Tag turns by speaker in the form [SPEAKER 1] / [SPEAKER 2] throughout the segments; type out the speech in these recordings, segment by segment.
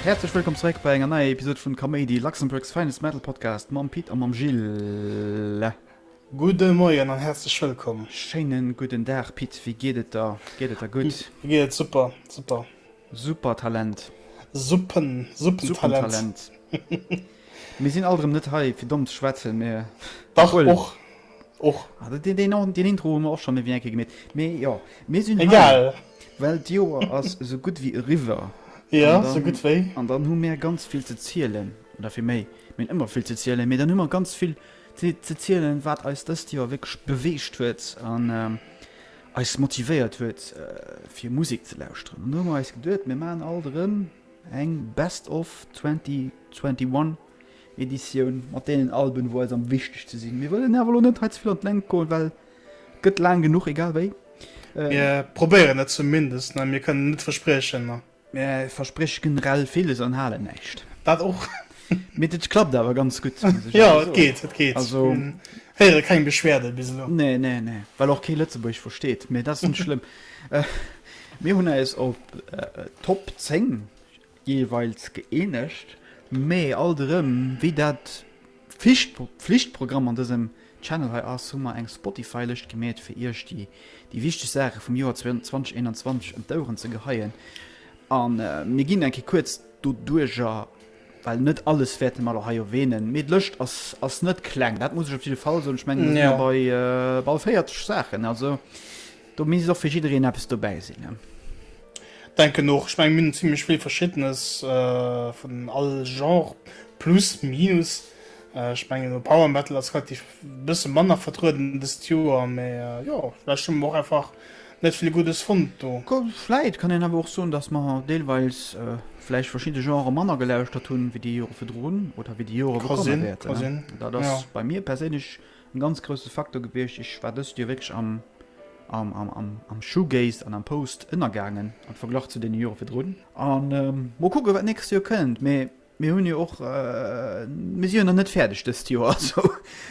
[SPEAKER 1] Häerzlech wëllkomm zeréck bei enger neier Episod vun Kaméidi, Luxembourg's finest metal podcast mam Pit a mam Gilles. Gudde
[SPEAKER 2] Moien an häerzlech wëllkomm. Schéinen gudden Dag
[SPEAKER 1] Pit, wéi geet et der? Geet et der gutt? Mir geet et super,
[SPEAKER 2] super. Super
[SPEAKER 1] Talent! Suppen, Suppen Talent! Suppen
[SPEAKER 2] Talent!
[SPEAKER 1] Mir sinn alt erëm net hei fir domm ze schwätzen, mä Dach obwuel.
[SPEAKER 2] och, och. Deen
[SPEAKER 1] Intro hu mer och schonn ewéi eng Kéier gemeet, mä jo, mir sinn hei, Egal. well
[SPEAKER 2] d'Joer
[SPEAKER 1] ass esou gutt wéi eriwwer. Jo, An esou dann, gutt
[SPEAKER 2] wéi. an
[SPEAKER 1] dann hu
[SPEAKER 2] mär ganz
[SPEAKER 1] vill ze zielen, oder fir méi, mir hunn ëmmer vill ze zielen, mä dann hu mer ganz vill ze zielen, wat eis dëst Joer wierklech beweegt huet. An Eis motivéiert huet fir Musek ze lauschteren an do hu mer eis geduet mir maachen alt erëm eng Best of 2021 Editioun mat deenen Alben wou eis am wichtegste sinn. Mir wëllen awer elo net hei ze vill an d'Längt goen, well et gëtt laang genuch egal wéi. Mir
[SPEAKER 2] probéieren et zumindest, mä mir kënnen net verspriechen. Mä e versprécht
[SPEAKER 1] generell villes an halen näischt. Dat och.
[SPEAKER 2] Mee et klappt
[SPEAKER 1] awer ganz gutt, muss ech Jo, et geet, et
[SPEAKER 2] geet. Also.
[SPEAKER 1] Héiere keng
[SPEAKER 2] Beschwerde bis elo. Nee, nee, nee. Well och
[SPEAKER 1] kee Lëtzebuergesch versteet. Mee dat ass net schlëmm. Mir hunn eis op d'Top 10 jeeweils gëeenegt. Mee alt erëm, wéi dat. Pflichtprogramm an dësem Channel hei ass, hu mer eng Spotify Lëscht gemeet fir iech déi déi wichteg Saache vum Joer 2021 ëm d'Oueren ze geheien an mir ginn eng Kéier kuerz doduerger well net alles wäerte mer lo hei erwähnen, mee d'Lëscht ass ass net kleng, dat muss ech op jidde Fall soen, ech mengen mir si jo bei bal 40 Saachen, also Do misst och fir jiddereen eppes dobäi sinn. Denken
[SPEAKER 2] och. Ech mengen mir hunn zimmlech vill verschiddenes vun all Genre plus minus. Ech mengen e Power Metal ass relativ e bësse manner vertrueden dëst Joer, mä jo vläicht hu mer och einfach net vill Guddes fonnt do. Vläicht kann
[SPEAKER 1] een awer och soen, datt mer deelweis vläicht verschidde Genrë manner gelauschtert hunn wéi déi Jore virdrun oder wéi déi Jore wou komme wäerten. Dat ass bei mir perséinlech En ganz grousse Facteur gewiescht. Ech war dëst Joer wierklech am Shoegaze an am Post ënnergaangen am Verglach zu deene Jore virdrun. An mol kucken, wat d'nächst Joer kënnt. Mee mir hunn jo och, mir si jo nach net fäerdeg dëst Joer. Also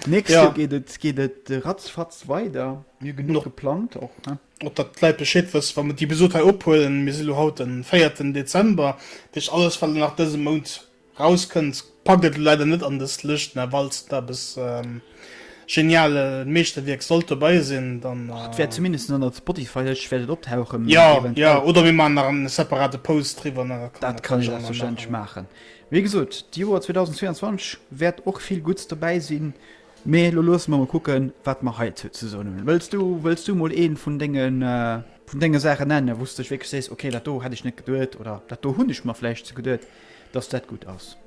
[SPEAKER 1] d'nächst Joer geet et, geet et ratzfatz weider. Mir hu genuch geplangt och, ne? Och datt d'Leit Bescheed
[SPEAKER 2] wëssen, wa mer d'Episod hei ophuelen, mir si lo haut de véierten Dezember, dat heescht alles, wat nach dëse Mount Raus kënnt, packt et elo leider net an des Lëscht, mä falls et eppes geniale Meeschterwierk sollt dobei sinn, dann. Och et wäert zumindest an der
[SPEAKER 1] Spotify-Lëscht wäert et optauchen, Jo, jo, oder
[SPEAKER 2] mir maachen nach en separate Post driwwer, da kann een dat natierlech och nach maachen.
[SPEAKER 1] maachen. Wéi gesot, d'Joer 2022 wäert och vill Gutts dobäi sinn, mä elo loosse mer mol kucken, wat mer heizou ze soen hunn. Wëlls du, wëlls du mol ee vun denge, vun denge Saachen nennen, wou s de dech wierklech sees, ok, dat do hätt ech net geduet, oder dat do hunn ech mer vläicht ze geduet? dass dat gutt ass.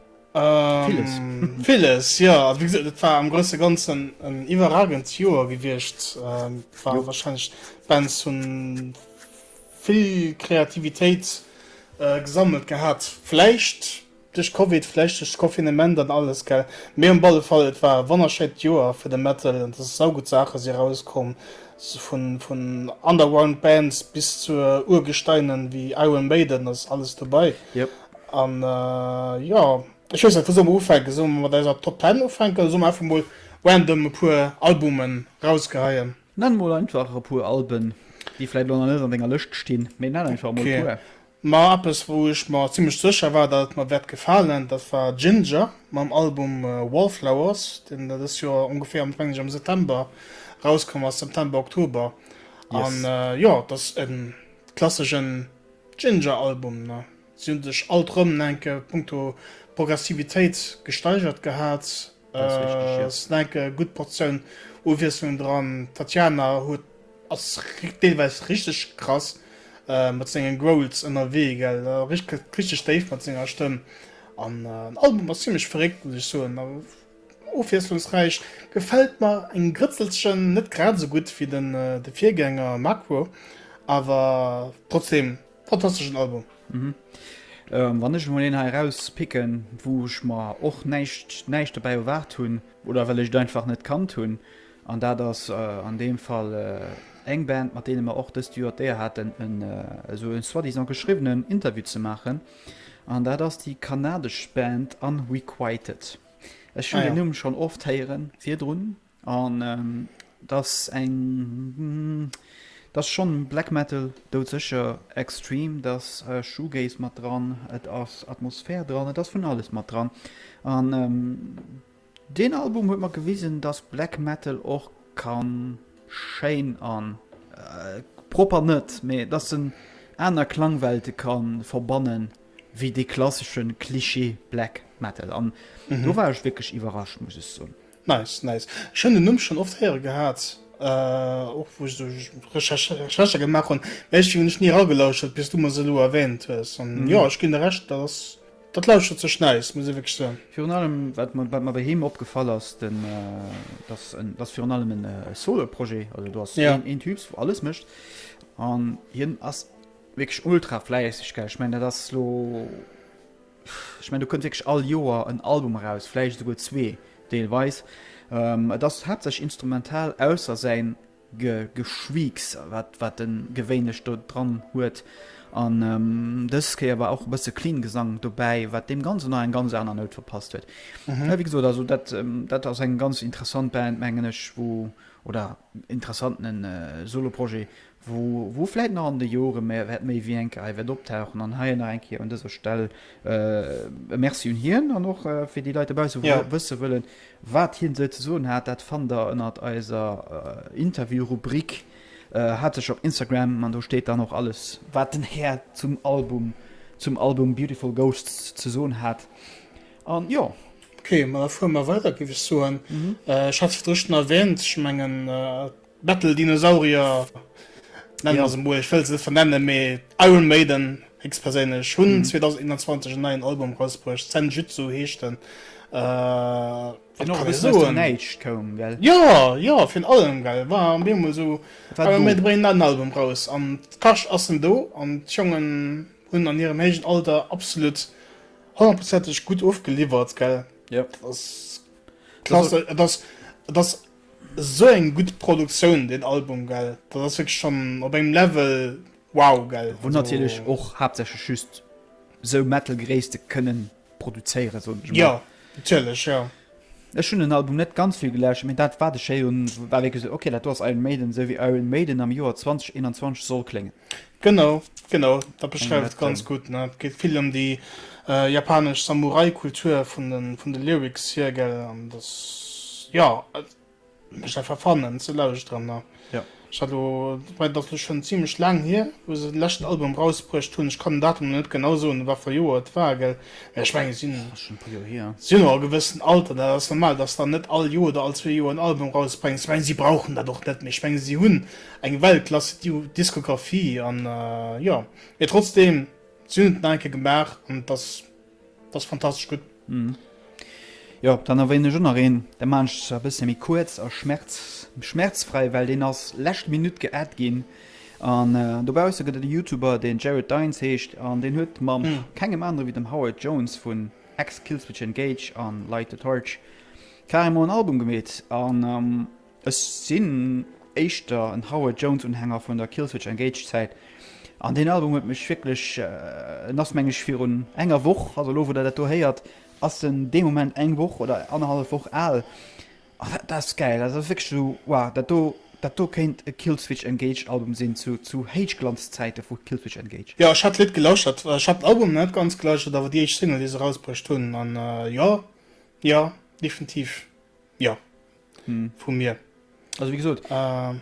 [SPEAKER 1] Villes.
[SPEAKER 2] Villes, jo. A wéi gesot, et war am grousse Ganzen en iwwerragend Joer gewiescht. Et war warscheinlech d'Bands hunn vill Kreativitéit gesammelt gehat, vläicht duerch Covid, vläicht duerch d'Confinement an alles, gell. Mee op alle Fall, et war e wonnerschéint Joer fir de Metal an et ass saugutt Saache si erauskomm. Vun Underground Bands bis zur Urgesteinen wéi Iron Maiden ass alles dobei. An jo, ech weess net, wou solle mer ufänken? Solle mer mat eiser Top 10 ufänken oder solle mer einfach mol random e puer Albumen rausgeheien? Nenn mol einfach
[SPEAKER 1] e puer Alben, déi vläit elo nach net an denger Lëscht stinn, mee nenn einfach mol e puer. Ma eppes wou
[SPEAKER 2] ech mer zimmlech sécher war dat et mer wäert gefalen, dat war Jinjer mam Album Wallflowers, deen da dëst Joer ongeféier, meng ech, am September erauskomm ass, September, Oktober. An Yes. jo, et ass e klasseschen Jinjer-Album. Ne? Si hunn sech alt erëm en enke punkto Progressivitéit gesteigert gehat. Dat ass richteg, Et yes. ass en enke gutt Portioun Uwiesslung dran. D'Tatjana huet. Ass deelweis richteg krass mat sengen Growls ënnerwee gell, gëtt richteg déif mat senger Stëmm an den Album ass zimlech verréckt muss ech soen, ofwiesslungsräich, gefält mer en Grëtzelchen, net grad esou gutt wéi de Virgänger Macro, awer trotzdeem fantasteschen Album.
[SPEAKER 1] Wann ech emol een hei eraus picken wou ech mer och näischt näischt dobäi erwaart hunn, oder well ech et einfach net kannt hunn, An dat ass an deem Fall eng Band, mat deene mer och dëst Joer d'Éier haten, esou e soi-disant geschriwwenen Interview ze maachen. An dat ass déi kanadesch Band Unrequited. Ech hunn Ah deen ja. Numm schonn oft héieren virdrun. An et ass eng, et ass schonn Black Metal, doudsécher extreme, et ass Shoegaze mat dran, et ass Atmosphär dran, et ass vun alles mat dran. An Deen Album huet mer gewisen dass Black Metal och kann schéin an propper net, mee dass en aner Klangwelte kann verbannen wéi dee klasseschen Klischee Black Metal an do war ech wierklech iwwerrascht muss ech soen. Nice nice, ech
[SPEAKER 2] hunn den Numm schonn oft héiere gehat, och wou ech esou Recherchë gemaach hunn, mä ech hunn ni eragelauschert bis du mer se elo erwähnt hues an jo ech ginn der Recht dat ass Dat lauschtert sech nice, muss ee wierklech soen. Virun allem, wat
[SPEAKER 1] mer bei him opgefall ass, den, dat ass virun allem en Solo-Projet, also do ass een Typs, wou alles mécht. An hien ass wierklech ultra fläisseg, gell? Ech mengen, dat ass elo, ech mengen, do kënnt wierklech all Joer en Album eraus, vläicht esouguer zwee deelweis. Et ass haaptsächlech instrumental, ausser säin Ge Geschweeks, wat wat en gewéinlech do dran huet. An dës Kéier war och e bësse clean Gesang dobäi, wat deem Ganzen nach eng ganz aner Nout verpasst huet. Mä wéi gesot, also dat dat ass eng ganz interessant Band, mengen ech, wou, oder interessantene Soloprojet, wou wou vläit nach an de Jore mä wäert méi wéi eng Kéier hei wäert optauchen. An hei nach eng Kéier un dëser Stell e Merci un hien an och fir déi Leit dobausse, wou wësse wëllen, Wat hien sou ze soen hat, dat fannt der ënnert eiser Interview-Rubrik. Hat sech op Instagram, an do steet dann och alles, wat den Här zum Album, zum Album Beautiful Ghosts ze soen hat. An jo. Ok, ma da fuere
[SPEAKER 2] mer weider, géif ech soen. Ech hat virdrun schonn erwähnt, ech mengen, Metal Dinosaurier nennen ja. emol, ech wëll se net vernennen, mee Iron Maiden ex perséinlech hunn mhm. 2021 en neien Album rausbruecht, Senjutsu heescht den. Äh, ja ja fir allem ge war am Bemol so an Album raus an Kasch assen do an Jongen hunn an hirem hégen Alter absolut hoprozentg gut ofgeliwwert gell. Ja. Das,
[SPEAKER 1] das, das,
[SPEAKER 2] das Sou eng gudd Produktioun den Album gell, dat ass wierklech schon op engem Level wow gell. Wou natierlech och
[SPEAKER 1] haaptsächlech just sou Metal Gréisste kënnen produzéieren soen ech mol. Jo natierlech
[SPEAKER 2] jo. Ech hunn den Album
[SPEAKER 1] net ganz vill gelauschtert, mee dat wat ech héieren war wierklech sou ok dat do ass Iron Maiden, sou wéi Iron Maiden am Joer 2021 soll kléngen. Genau,
[SPEAKER 2] genau, dat beschreift et ganz gutt. Et geet vill ëm déi japanesch Samurai-Kultur vun de, vun de Lyrics hier, gell. An dass, jo, et mécht einfach Fun, en ze lauschteren. A jo, ech hat elo,
[SPEAKER 1] wobäi et
[SPEAKER 2] ass elo schonn zimlech laang hier, wou se den leschten Album rausbruecht hunn. Ech kann den Datum elo net genau soen, a wat fir Joer et war, gell. Mä ech mengen, si sinn och e gewëssent Alter, dat ass normal, dass s de dann net all Joer oder all zwee Joer en Album rausbréngs. Ech mengen, si brauchen dat och net méi. Ech mengen, si hunn. Eng Weltklass Diskografie an jo mee trotzdem si hunn et nach eng Kéier gemaach an et ass et ass fantastesch gutt.
[SPEAKER 1] Jo, dann erwänen ech och nach een, dat maachen ech zwar e bësse méi kuerz a schmerz schmerzfrei, well deen ass lescht Minutt geadd ginn an dobausse gëtt et e Youtuber deen Jared Dines heescht an deen huet mam kengem anere wéi dem Howard Jones vun X, Killswitch Engage a Light the Torch carrément en Album gemeet an Ech sinn éischter en Howard Jones Unhänger vun der Killswitch Engage Zäit an deen Album huet mech wierklech, en ass meng ech virun enger Woch, also elo wou der dat do héiert ass en dee Moment eng Woch oder annerhallef Woch al a dat ass gäil, dat ass wierklech esou wow, dat do dat do kéint e Killswitch Engage Album sinn zu zu Héichglanz Zäite vu Killswitch Engage. Jo ech hat d'Lidd gelauschtert,
[SPEAKER 2] ech hat den Album net ganz gelauschtert awer déi éischt Single déi se erausbruecht hunn an jo jo definitiv jo vu mir. Also wéi gesot,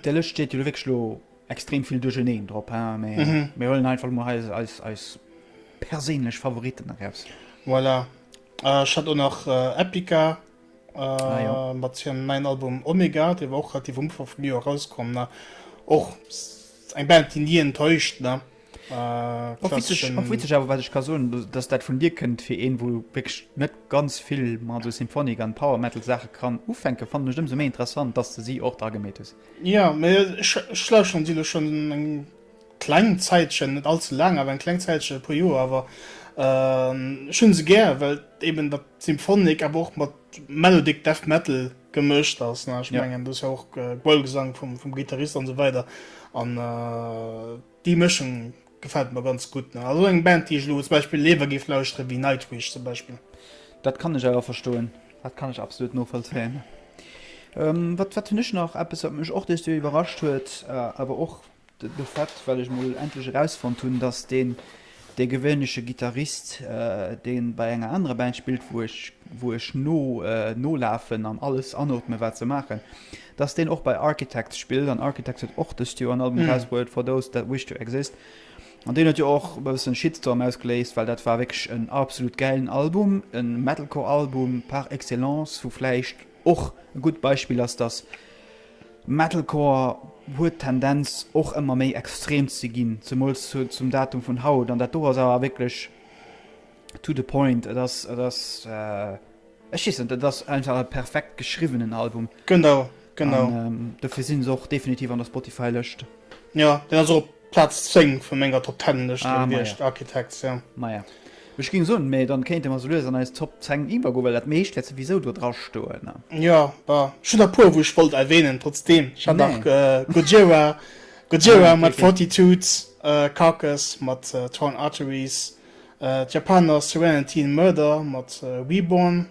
[SPEAKER 1] déi Lëscht steet jo lo wierklech lo extrem vill duercherneen drop, hein, mä mir huelen einfach emol hei eis, eis, eis perséinlech Favoriten eraus. Voilà.
[SPEAKER 2] Ech hat och nach Epica mat hirem neien Album Omega, dee war och relativ um Ufank vum Joer erauskomm, ne. Och eng Band, déi ni enttäuscht, ne. Och witzeg
[SPEAKER 1] awer, wat ech ka soen, datt dat vun dir kënnt, fir een, wou wierklech net ganz vill mat esou Symphonic an Power Metal Saache kann ufänken, fannen ech et ëmsou méi interessant, datt s de si och dra gemeet hues. Jo, mee
[SPEAKER 2] ech lauschteren si lo schonn eng kleng Zäitchen, net all ze laang, awer eng kleng Zäitchen, e puer Joer awer. Ech hunn se gär, well eben dat Symphonic awer och mat Melodic Death Metal gemëscht ass. Ech mengen do ass jo och Growlgesang vum Gittarist an esou weider an. Déi Mëschung gefällt mer ganz gutt. Nach esou eng Band déi ech elo zum Beispill léiwer géif lauschteren wéi Nightwish zum Beispill. Dat kann ech
[SPEAKER 1] awer verstoen. Dat kann ech absolut novollzéien. Wat wat hunn ech nach? Eppes wat mech och dës Joer iwwerrascht huet, awer och de Fait well ech mol endlech erausfonnt hunn dass deen Dee gewéinleche Gittarist, dee bei enger anerer Band spillt, wou ech, wou ech no, nolafen an alles anootmen, wat se maachen, dass deen och bei Architects spillt, an Architects huet och dëst Joer en Album erausbruet, For Those That Wish To Exist, an deen huet jo och e bëssen Shitstorm ausgeléist, well dat war wierklech en absolut gäilen Album, e Metalcore-Album par excellence, wou vläicht. Och e gutt Beispill ass, dass Metalcore huet d'Tendenz och ëmmer méi extrem ze ginn, zemools zum Datum vun haut. An dat do ass awer wierklech to the point. Et ass, et ass, ech weess net, et ass einfach e perfekt geschriwwenen Album. Genau, genau.
[SPEAKER 2] An
[SPEAKER 1] dofir si se och definitiv an der Spotify-Lëscht. Jo, deen ass och
[SPEAKER 2] op Platz 10 vun menger Top 10 Lëscht ah, gewiescht, Architects, ja. Maja. Ech
[SPEAKER 1] ging soen, mee dann kéinte mer sou lues an eis Top 10 iwwer goen, well dat meescht wäert souwisou do dra stoen, ne? Jo, bah, ech
[SPEAKER 2] hunn der e puer wou ech wollt erwähnen, trotzdem, ech hat nach nee. äh, Gojira, Gojira mat Fortitude, äh, Carcass mat äh, Torn Arteries, äh, d'Japaner Serenity and Murder mat äh, Reborn,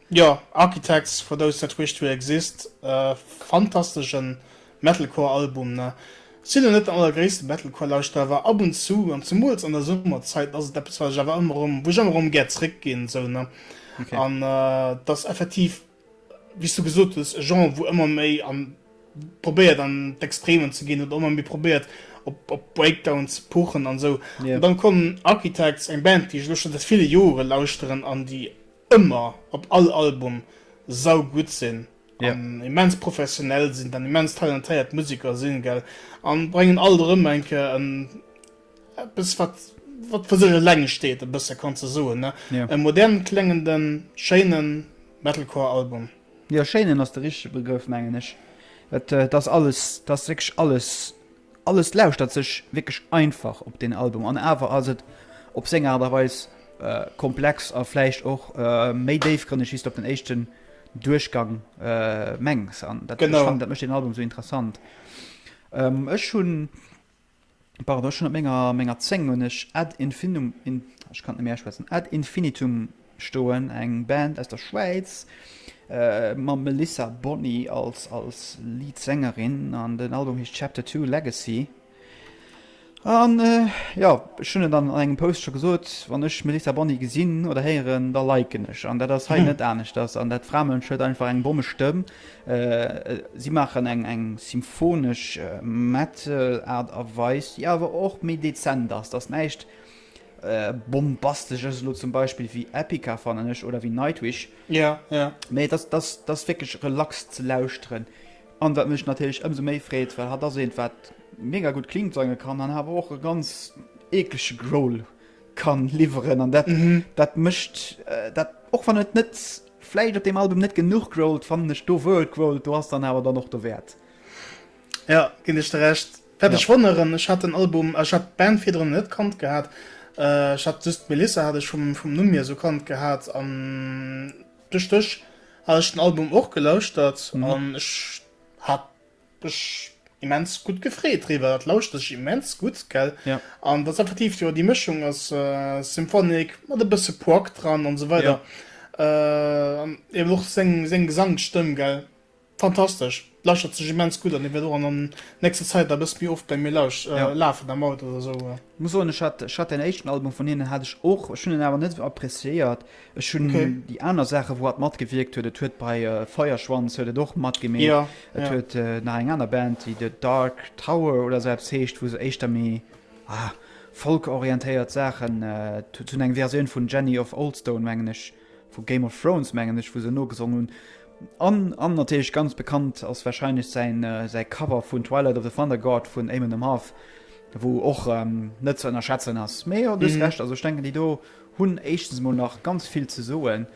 [SPEAKER 1] Jo, Architects
[SPEAKER 2] for those that wish to exist, e fantasteschen Metalcore Album. Sinn elo net den allergréissten Metalcore Lauschterer, awer ab und zu, an zemools an der Summerzait, ass et eppes wat ech awer ëmmer erëm, wou ech ëmmer erëm gär zréck ginn esou ne. Okay. An et ass effektiv wéi's du gesot hues e Genre wou ëmmer méi an probéiert an d'Extremen ze ginn oder ëmmer méi probéiert op op Breakdown ze puchen an esou. Yeah. An dann kommen Architects, eng Band déi ech elo schon seit ville Jore lauschteren an déi ëmmer op all Album sau gudd sinn an immens professionell sinn an immens talentéiert Museker sinn gell an brengen alt erëm eng Kéier en eppes wat wat fir sech eleng steet e bësse kann ze soen ne e modernen klengenden schéinen Metalcore Album. Jo schéinen ass de
[SPEAKER 1] richtege Begrëff mengen ech. Et ass alles, et ass wierklech alles. Alles lauschtert sech wierklech einfach op deen Album an awer ass et op seng Aart a Weis komplex a vläicht och méi déifgrënneg wéi s de op den éischten Duerchgang mengs an dat mécht deen Album esou interessant. Ech hunn, pardon, ech hunn op menger 10 hunn ech Ad Infinitum, ech kann net méi auschwätzen, Ad Infinitum. stoen, eng Band aus der Schwäiz mam Melissa Boni als Leadsängerin an den Album heescht Chapter Two, Legacy. An jo, ech hunn et an engem Post scho gesot, wann ech Melissa Boni gesinn oder héieren, da liken ech. An dat ass hei net aneschters. An dat Framënsch huet einfach eng bommesch Stëmm. Si maachen eng symphonesch Metal-Aart a Weis, déi awer och méi dezent ass. Dat ass näischt Bombastesch ass et elo zum Beispill wéi Epica, fannen ech, oder wéi Nightwish. Ja, ja.
[SPEAKER 2] Mee dat, dat, dat
[SPEAKER 1] ass wierklech relax ze lauschteren. An wat mech natierlech ëmsou méi freet, well hatt ass eent, wat mega gutt clean sange kann an awer och e ganz eeklege Growl kann liwweren. An dat, dat mécht dat, och wann et net vläicht op deem Album net genuch growlt, fannen ech do, wou et growlt, do ass dann awer dann och dowäert. Ja,
[SPEAKER 2] ginn ech der Recht. Wat ech wonneren, ech hat den Album, ech hat d'Band virdrun net kannt gehat, ech hat just d'Melissa hat ech vum Numm hier esou kannt gehat an duerch dech hat ech den Album och gelauschtert an ech hat mech immens gutt gefreet driwwer, dat lauschtert sech immens gutt, gell? An dat ass effektiv jo déi Mëschung aus Symphonic mat e bësse Prog dran an esou weider an eben och seng Gesangsstëmm, gell? Fantastesch, lauschtert sech immens gutt an. Ech wäert och an nächster Zäit da bëssen méi oft bei mir lauscht lafen am Auto oder esou. Ech muss soen ech hat
[SPEAKER 1] ech hat däin éischten Album vun hinnen hat ech och, ech hunn en awer net esou appreciéiert. Ech hunn déi aner Saachen wou hatt matgewierkt huet, et huet bei Feierschwanz huet et och matgemi et huet nach eng aner Band déi The Dark Tower oder esou eppes heescht wou se éischter méi Folk orientéiert Saachen hunn eng Versioun vun Jenny of Oldstone mengen ech Vu Game of Thrones mengen ech wou se nogesongen hunn an an natierlech ganz bekannt ass wahrscheinlech säin säi Cover vun Twilight of the Thunder God vun Eamon Amarth wou och ähm, net ze ënnerschätzen ass. Mee jo duerst recht, also ech denken déi do hunn éischtens mol nach ganz vill ze soen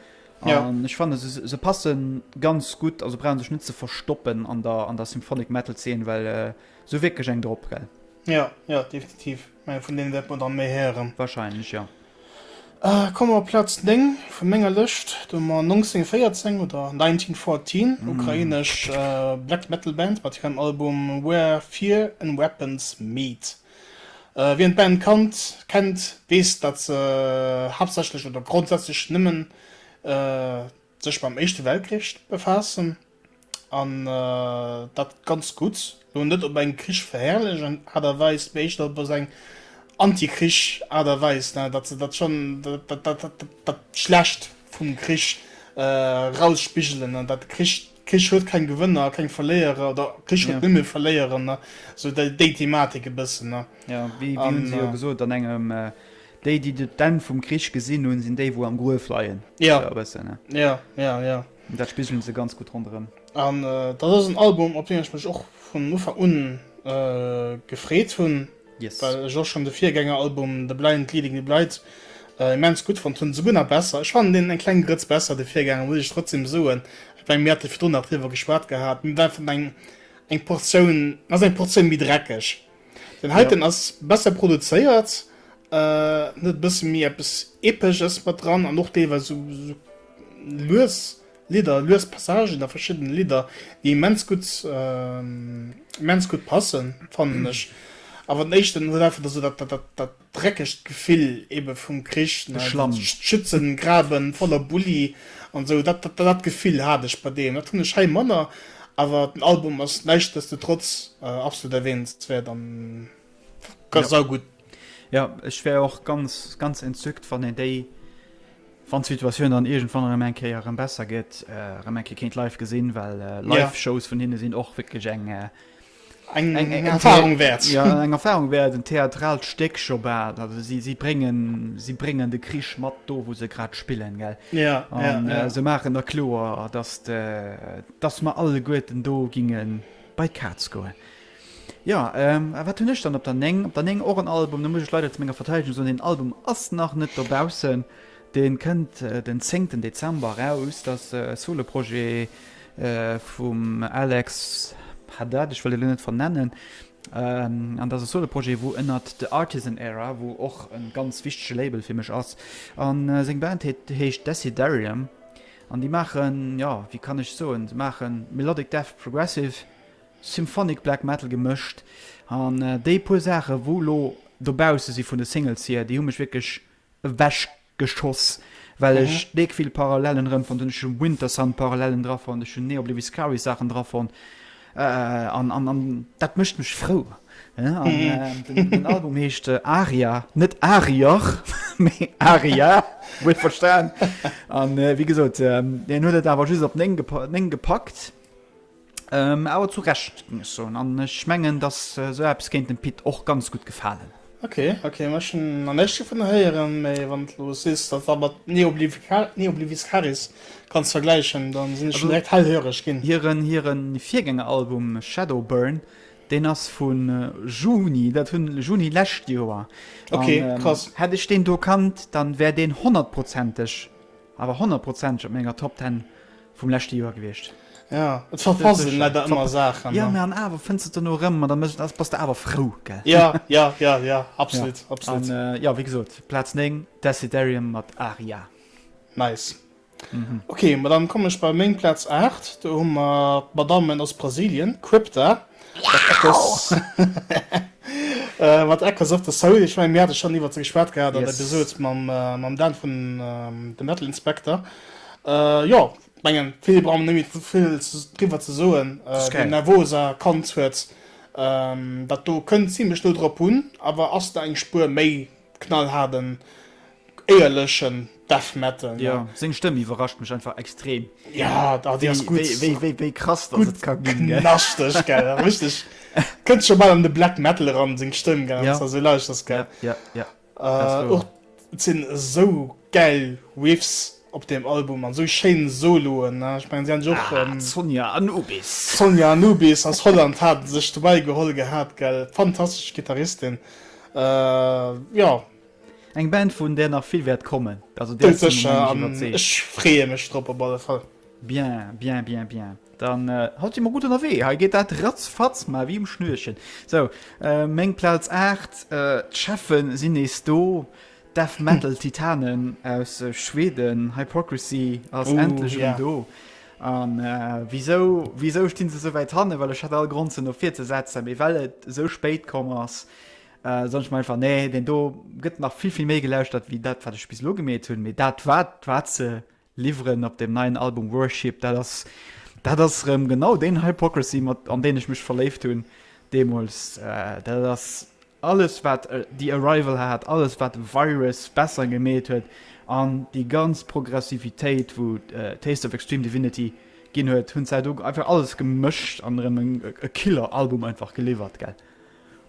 [SPEAKER 1] Ja. an ech fanne se se passe ganz gutt, also brauchen sech net ze verstoppen an der an der Symphonic Metal Zeen, well se hu wierklech eng drop, gell? Ja,
[SPEAKER 2] ja, definitiv.
[SPEAKER 1] Ech
[SPEAKER 2] menge vun deenen wäerte mer
[SPEAKER 1] dann méi
[SPEAKER 2] héieren. Wahrscheinlech,
[SPEAKER 1] jo.
[SPEAKER 2] Komme mer op Plaz 9 vun menger Lëscht, do hu mer 1914 oder 1914, ukrainesch Black Metal Band mat hirem Album Where Fear and Weapons Meet. Wien d'Band kannt, kennt, weess, datt se haaptsächlech oder grondsätzlech nëmmen. sech mam éischte Weltkrich befaassen an dat ganz gutt, elo net op eng Krich verherrlechend Aart a Weis, mee éischter op eng Anti-Krich Aart a Weis, datt se dat schonn, dat Schlecht vum Krich erausspigelen an dat Krich, Krich huet keng Gewënner a keng Verléierer oder Krich huet nëmme Verléierer, esou déi Thematik e bëssen. Jo, wéi hunn
[SPEAKER 1] se jo gesot an engem Déi déi d'Enn vum Krich gesinn hunn, sinn déi wou am Gruef leien. Jo, Esou e bëssen, ne?
[SPEAKER 2] jo, jo,
[SPEAKER 1] jo. An dat spigelen se ganz gutt ronderëm. An dat ass
[SPEAKER 2] en Album, op deen ech mech och vun Ufank un gefreet hunn, Yes. well ech och schonn de Virgängeralbum The Blind Leading the Blight immens gutt fonnt hunn, esouguer nach besser. Ech fannen deen eng kleng Grëtz besser, de Virgänger, muss ech trotzdeem soen. Ech mengen, mir hate virdrun nach driwwer geschwat gehat, mir waren eng Portioun, ass eng Portioun méi dreckeg. Den heiten ass besser produzéiert, huet e bësse méi eppes Epeches mat dran an och deelweis esou lues Lidder, lues Passagen a verschiddene Lidder, déi immens gutt, immens gutt passen, fannen ech. Awer den éischten huet einfach esou dat, dat, dat, dat. dreckegt Gefill eben vum Krich, ne, Schlamm. Schützen graben voller Bulli an sou, dat dat Gefill hat ech bei deem, dat hunn ech hei manner, awer den Album ass näischtdesdetrotz absolut erwähnenswert an ganz saugutt. Jo, ech
[SPEAKER 1] wär och ganz ganz entzückt wann een déi, wann d'Situatioun dann iergendwann erëm eng Kéier erëm besser gëtt, erëm eng Kéier kéint live gesinn, well live Shows vun hinne sinn och wierklech eng eng Erfahrung wäert
[SPEAKER 2] ja, eng Erfahrung wäert
[SPEAKER 1] en theatralt Stéck scho bal also si si bréngen si bréngen de Krich mat do wou se grad spillen gell ja, an, ja, ja. Äh, se maachen der kloer dass de dass mer alle Gueten do gingen bei d'Kaz goen. Ja ähm, wat hunn ech dann op der Neng op der Neng och en Album, da muss ech leider zu menger Verteidigung soen den Album ass nach net dobaussen. Deen kënnt den zéngten Dezember eraus. Et ass e Solo-Projet vum Alex Haddad, ech wëll en elo net vernennen, an et ass e Solo-Projet wou ënnert The Artisan Era, wou och e ganz wichtege Label fir mech ass, an seng Band heet heescht Desiderium an déi maachen, jo wéi kann ech soen, se maache Melodic Death, Progressive, Symphonic Black Metal gemëscht an déi puer Saache wou elo dobausse si vun de Singles hier, déi hu mech wierklech ewech geschoss well ech deek vill Parallelen rem fonnt hun, ech hun Wintersun Parallelen dra fonnt, ech hun Neo Oblivious Scaries Saachen dra fonnt an an an dat mecht mech frou an den Album heescht Aria net Ariach mee Aria huet verstan an wéi gesot hien huet et awer just op 9 gepackt. Ähm, awer zu Recht, géing ech soen. An ech mengen, datt esou eppes kéint dem Pit och ganz gutt gefalen. Ok, ok, ma
[SPEAKER 2] ech hunn nach näischt dovunner héieren, mee wann s du elo sees, datt war mat Neobliviscaris kanns vergläichen, da sinn ech schonn direkt hellhöreg ginn. Hiren, hiren
[SPEAKER 1] Virgängeralbum Shadowburn, deen ass vu Juni, dat hunn, Juni lescht Joer. Ok, krass.
[SPEAKER 2] Hätt ech deen do kannt,
[SPEAKER 1] dann wär deen honnertprozenteg, awer honnertprozenteg op menger Top Ten Vum leschte Joer gewiescht. Ja, et
[SPEAKER 2] verfassen leider ëmmer Saachen. Jo, mä an awer fënns de et
[SPEAKER 1] dono erëm an da bass de awer frou, gell? Ja, ja, ja, ja,
[SPEAKER 2] absolut, absolut. An jo,
[SPEAKER 1] wéi gesot, Plaz 9, Desiderium mat Aria. Nice.
[SPEAKER 2] Ok, ma dann kommen ech bei meng Plaz 8. Do hu mer d'Madammen aus Brasilien, Crypta, mat Echoes, mat Echoes of the Soul. Ech mengen, mir hate schonn iwwert se geschwat gehat an der Episode mam Dan vun The Metal Inspector. Jo, ech mengen, vill brauche mer net méi vill driwwer ze soen. Den Nervosa kannt huet dat do, kënnt zimlech no drop un, awer ass nach eng Spuer méi knallhaarden, éierleche Death Metal. Jo, seng Stëmm
[SPEAKER 1] iwwerrascht mech einfach extrem,
[SPEAKER 2] wéi krass
[SPEAKER 1] dass et ka ginn. Gutt knaschteg, gell,
[SPEAKER 2] richteg, kënnt scho bal an de Black Metal eran, seng Stëmm, gell, wann s de esou lauschters, gell. Och sinn esou gäil Riffs op deem Album an esou schéin Soloen. Ech mengen si hat och Sonja
[SPEAKER 1] Anubis Sonja
[SPEAKER 2] Anubis aus Holland hat sech dobäi geholl gehat gell. Fantastesch Gittaristin jo. Eng
[SPEAKER 1] Band vun där nach vill wäert kommen. Doudsécher an ech
[SPEAKER 2] freeë mech drop op alle Fall. Bien, bien, bien,
[SPEAKER 1] bien. Dann halt je mol gudd ënnerwee, hei geet dat ratz fatz mar wéi um Schnürchen. Sou, meng Plaz 8, d'Cheffen sin nees do, Death Metal Titanen aus Schweden, Hypocrisy ass endlech erëm do.
[SPEAKER 2] An
[SPEAKER 1] wisou stin se souwäit hannen, well ech hat all Grond se no vir ze setzen, mee well et sou spéit komm ass, soen ech mer einfach, nee, deen do gëtt nach vill vill méi gelauschtert wéi dat wat ech bis elo gemeet hun, mee dat war se. Liwweren op deem neien Album Worship, dat ass, dat ass erëm genau deen Hypocrisy, mat an deen ech mech verléift hunn deemools. Dat ass alles, wat The Arrival hat, alles, wat Virus besser gemeet huet an déi ganz Progressivitéit, wou Taste of Extreme Divinity ginn huet, hunn d'Zäit ugefaangen, einfach alles gemëscht an erëm e Killer-Album einfach geliwwert, gell.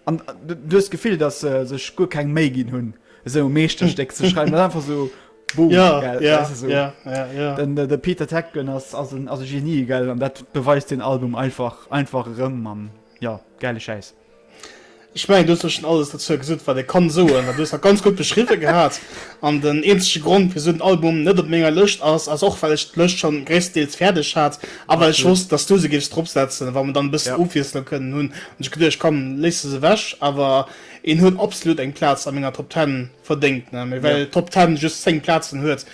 [SPEAKER 1] An du hues d'Gefill, dass se sech guer keng Méi ginn hunn, esou e Meeschterstéck ze schreiwen. Dat ass einfach esou Boom, gell? Dat ass esou. Den de Peter Tägtgen ass ass e Genie, gell? An dat beweist deen Album einfach einfach erëm. An jo, gäile Schäiss. Ech mengen,
[SPEAKER 2] du hues elo schonn alles dozou gesot, wat ee kann soen. An du hues dat ganz gutt beschriwwen gehat. An den eenzege Grond, wisou den Album net op menger Lëscht ass, ass och, well ech d'Lëscht schonn gréisstendeels fäerdeg hat a well ech wosst, dass du se géifs dropsetzen, wa mer dann e bëssen Ofwiesslung kënnen hunn, Hun ech geduecht komm léisst es ewech, awer een huet absolut eng Platz a menger Top 10 verdéngt ne, mee well Top 10 just 10 Platzen huet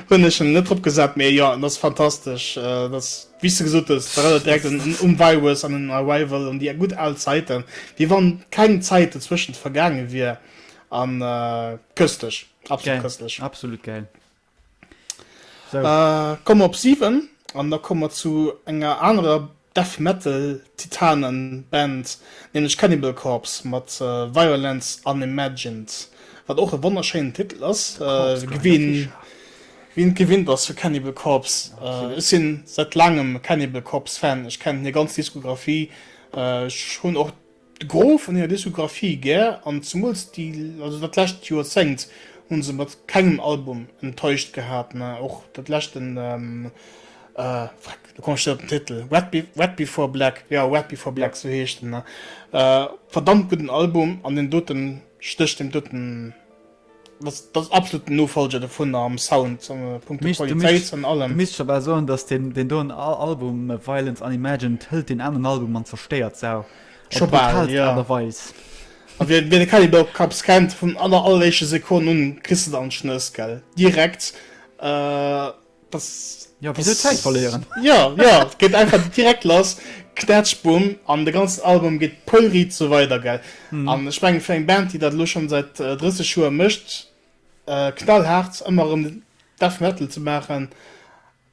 [SPEAKER 2] hun ech en net drop gesat, mee jo en ass fantastesch, et ass wéis de gesot hues et erënnert direkt un um Virus an un Arrival, un déi gutt al Zäiten, wéi wann keng Zäit dozwëschent vergaange wier, an köstlich, absolut köstlich. Geil, absolut geil. Komme mer op 7 an da komme mer zu enger anerer Death Metal Titanen Band, nämlech Cannibal Corpse mat Violence Unimagined, wat och e wonnerschéinen Titel ass, wien et gewinnt ass vu Cannibal Corpse. Ech sinn säit laangem e Cannibal Corpse Fan, ech kennen hir ganz Diskographie, ech hunn och. De Gros vun hirer Diskographie gär, an zemools dat lescht Joerzéngt hu se mat kengem Album enttäuscht gehat, mä och dat leschte Wreck, do komme ech net op den Titel, Wreck Before Black, jo Wreck Before Black, sou heescht en, verdammt gudden Album, an deen doten stécht deem doten. Dass dass absolut den Nofolger dovun am Sound an äh, Punkto Mischt, du Qualitéit mischt, an du
[SPEAKER 1] allem. mischt schobal soen, dass den, den doen Al Album äh, Violence Unimagined hëlt den aneren Album an zerstéiert s'au op Schobal, brutalst ja. Aart a
[SPEAKER 2] Weis. A wien wien de Cannibal Corpse kennt, vun aller alleréischte Sekonn un kriss de dann Schnëss, gell? Direkt. Äh. Das, ja, wieso Zäit verléieren?
[SPEAKER 1] Ja, ja, geet
[SPEAKER 2] einfach direkt lass, knätsch, bumm, an de ganzen Album geet pollriit sou weider, gell? Mm. An ech mengen, fir eng Band, déi dat elo schonn säit 30 äh, Joer mécht, äh, knallhaart ëmmer erëm Death Metal ze maachen,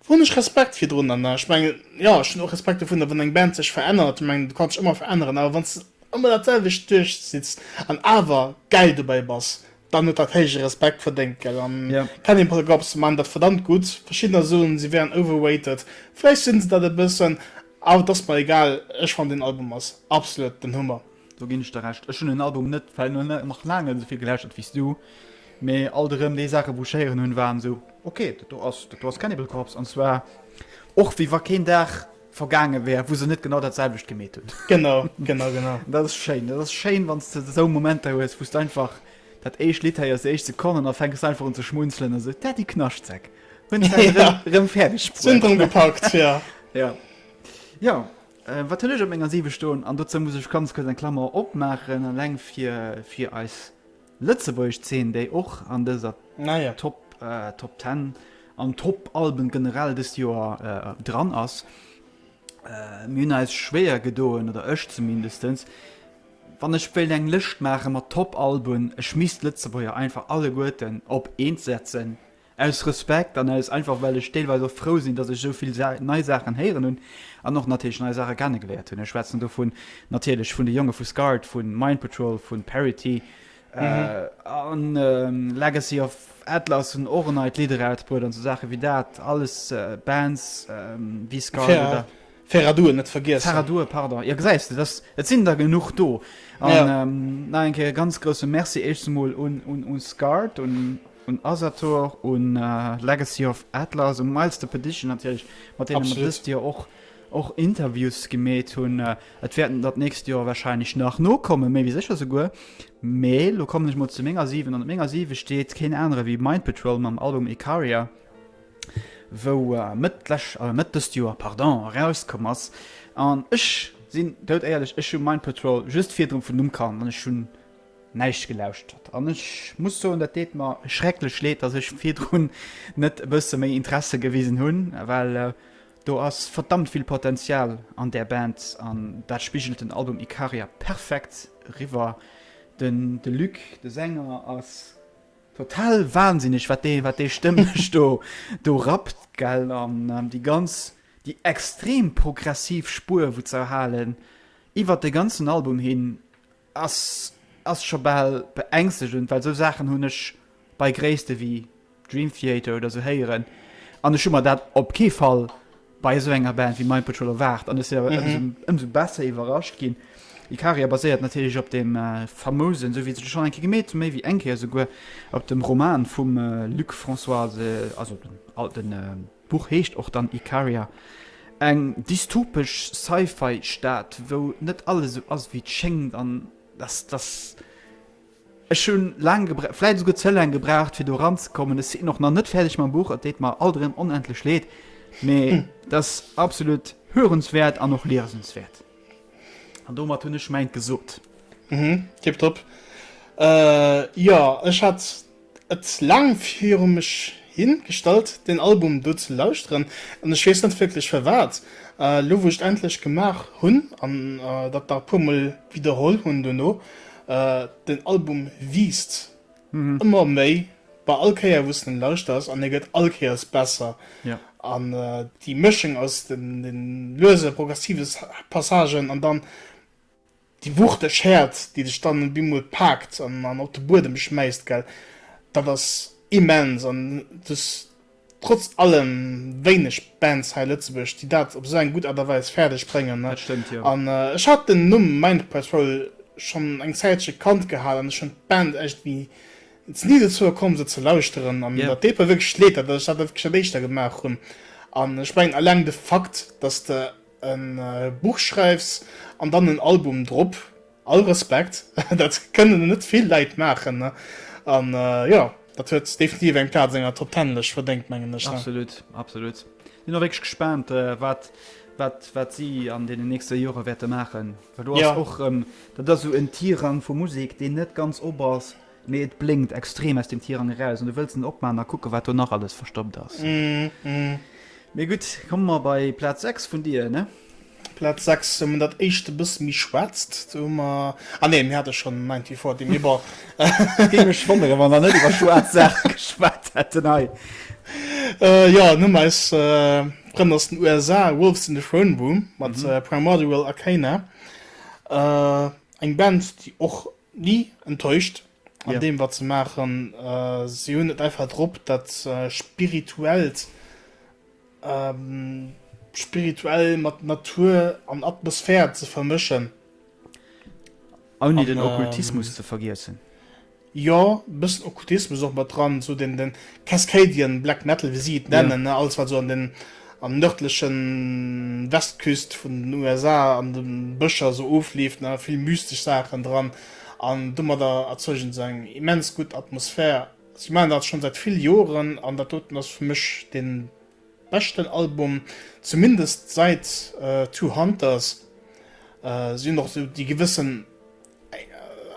[SPEAKER 2] hunn ech Respekt virdrun. An ech mengen, ja, ech hunn och Respekt dovunner, wann eng Band sech verännert. Ech mengen, du kanns dech ëmmer veränneren, awer wann s de ëmmer dat selwecht duerchzitts an awer gäil dobäi bass, dann huet dat héije Respekt verdéngt, gell? An ja. Penny Paragopes man dat verdammt gutt. Verschiddener soen, si wären overrated. Vläicht sinn se dat e bëssen, awer et ass mer egal. Ech fannen, den Album ass absolut den Hummer. Do ginn ech der Recht.
[SPEAKER 1] Ech hunn den Album net nach laang net esouvill gelauschtert wéi s du. Mee alt erëm déi Saachen, wou ech héieren hunn, waren esou, okay, dat do ass, dat do ass Cannibal Corpse. An zwar och wéi wa keen Dag. vergaange wär, wou se net genau dat selwecht gemeet hunn. Genau, genau, genau.
[SPEAKER 2] Dat ass
[SPEAKER 1] schéin. Dat ass schéin, wann s de esou Momenter hues, wou s de einfach dat éischt Lidd héiers, déi éischt Sekonnen a fänks einfach un ze schmunzelen a se, D'Daddy Knaschtzek hunn et hei erëm, erëm fäerdeg bruet. Si hunn et erëm gepackt,
[SPEAKER 2] jo. Jo.
[SPEAKER 1] Jo, wat hunn ech op menger Siwe stoen? An dozou muss ech ganz kuerz eng Klammer opmaachen, eleng fir, fir eis Lëtzebuergesch Zeen, déi och an dëser Top Top Ten an Top Alben generell dëst Joer dran ass. Mir hunn eis schwéier gedoen, oder ech zumindestens, wann ech wéilt eng Lëscht maache mat Top Alben, ech misst d'Lëtzebuerger einfach alleguerten op eent setzen, Aus Respekt an aus einfach well ech deelweis och frou sinn, datt ech esou vill nei Saachen héieren hunn an och natierlech nei Saache kennegeléiert hunn. Ech schwätzen do vun natierlech vun de Jonge vu Scarred, vu Mind Patrol, vu Parity an Legacy of Atlas hunn och en neit Lidd erausbruet an esou Saache wéi dat. Alles Bands wéi Scarred oder. Ferraduren net
[SPEAKER 2] vergiessen. Ferraduren, pardon. Jo, gesäis
[SPEAKER 1] de, dass, et sinn der genuch do. An ja. ähm, nach eng Kéier ganz grousse Merci éischt emol un, un, un Scart, un, un Asator, un äh, Legacy of Atlas, un Miles the Petition natierlech, mat deenen mer dëst Joer och och Interviews gemeet hunn. Äh, et wäerten dat nächst Joer wahrscheinlich nach nokommen, méi wie sécher souguer. Mee lo kommen ech mol zu menger 7 an menger 7 steet keen anere wéi Mind Patrol mam Album Icaria. wou Mëtt lech, äh Mëtt dëst Joer, pardon, erauskomm ass. An ech sinn doudéierlech, ech hu Mind Patrol just virdru vun Numm kannt an ech hunn näischt gelauschtert. An ech muss soen, dat deet mer schrecklech leed, datt ech virdrun net e bësse méi Interesse gewisen hunn, well do ass verdammt vill Potenzial an där Band an dat spigelt den Album Ikaria perfekt eriwwer. Den de Luc, de Sänger, ass Total wahnsinneg wat dee wat dee stëmmlech do do rappt gell an déi ganz déi extrem progressiv Spuer wou z'erhalen iwwert de ganzen Album hin ass ass scho bal beängstegend well sou Saachen hunn ech bei Gréisste wéi Dream Theater oder sou héieren an ech hu mer dat op kee Fall bei esou enger Band wéi Mind Patrol erwaart an ech si awer ëmsou ëmsou besser iwwerrascht ginn. Ikaria baséiert natierlech op dem famousen, sou wéi se schonn eng Kéier gemeet hunn, méi wéi eng Kéier esouguer, op dem Roman vum Luc Françoise, also den al den d'Buch heescht och dann Ikaria, eng dystopesch Sci-Fi-Stad, wou net alles esou ass wéi et schéngt an dass dass. Ech hu laang gebraucht, vläit esouguer ze laang gebraucht, fir do ranzekommen. Ech sinn och nach net fäerdeg mam Buch, et deet mer alt erëm onendlech leed, mee et ass absolut hörenswäert an och liesenswäert. An domat hunn ech mäint gesot. Tipptopp.
[SPEAKER 2] Jo, ech hat et laang viru mech hi gestallt, deen Album do ze lauschteren, an ech weess net wierklech firwat. Elo wou ech et endlech gemaach hunn an dat nach e puermol widderholl hunn duerno, Den Album wiisst ëmmer méi bei all Kéier wou s de en lauschters an e gëtt all Kéiers besser. An déi Mëschung aus de luese progressive Passagen an dann déi wuchteg Häert, déi dech dann op eemol paakt an op de Buedem schmäisst, dat ass immens. An trotz allem wéineg Bands hei a Lëtzebuerg, déi dat op esou eng gutt Aart a Weis fäerdeg bréngen. Dat stëmmt, jo. An
[SPEAKER 1] ech hat den Numm
[SPEAKER 2] Mind Patrol schonn eng Zäitche kannt gehal an ech hunn d'Band echt wéi ze ni dozou gekomm se ze lauschteren. An datt deet mer wierklech leed, datt ech dat net wierklech dat éischter gemaach hunn. An ech mengen eleng de Fakt, datt s de e Buch schreiws an dann en Album drop, All Respekt, dat kënnen net vill Leit maachen an jo dat huet definitiv eng Plaz an enger Top Ten Lëscht verdéngt mengen ech. Absolut, absolut.
[SPEAKER 1] Sinn och wierklech gespaant wat wat wat si an deenen nächste Jore wäerte maachen, well do ass och erëm, dat ass esou en Tirang vu Musek deen net ganz op ass, mee et blénkt extrem aus deem Tirang eraus an du wëlls en opmaachen a kucke wat do nach alles verstoppt ass. Mee gutt, komme mer bei Plaz 6 vun dir, ne? Platz 6
[SPEAKER 2] hu mer dat éischt e bësse méi schwaarzt. Do hu mer, ah nee, mir hate schonn Ninety Four Dee, mee bon. Et géing mech wonneren, wa mer net iwwer schwaarz Saache geschwat hätten hei. Jo, an hu mer eis Frënn aus den USA, Wolves in the Throne Room mat Primordial Arcana. Eng Band, déi och ni enttäuscht. an deem wat se maachen. Si hunn et einfach drop dat spirituellt, spirituell mat Natur an Atmosphär ze vermëschen.
[SPEAKER 1] Ouni den Okkultismus ze vergiessen. Jo,
[SPEAKER 2] e bëssen Okkultismus och mat dran, esou den Cascadian Black Metal, wéi si et nennen, ne, alles wat esou an den an nërdlechen Westküst vun den USA an de Bëscher esou ofleeft, ne, vill mystesch Saachen dran. an domadder erzeugen se eng immens gutt Atmosphär. Si maachen dat schonn säit vill Joren an dat doten ass fir mech den beschten Album, zumindest säit Two Hunters. Si hunn och esou déi gewëssen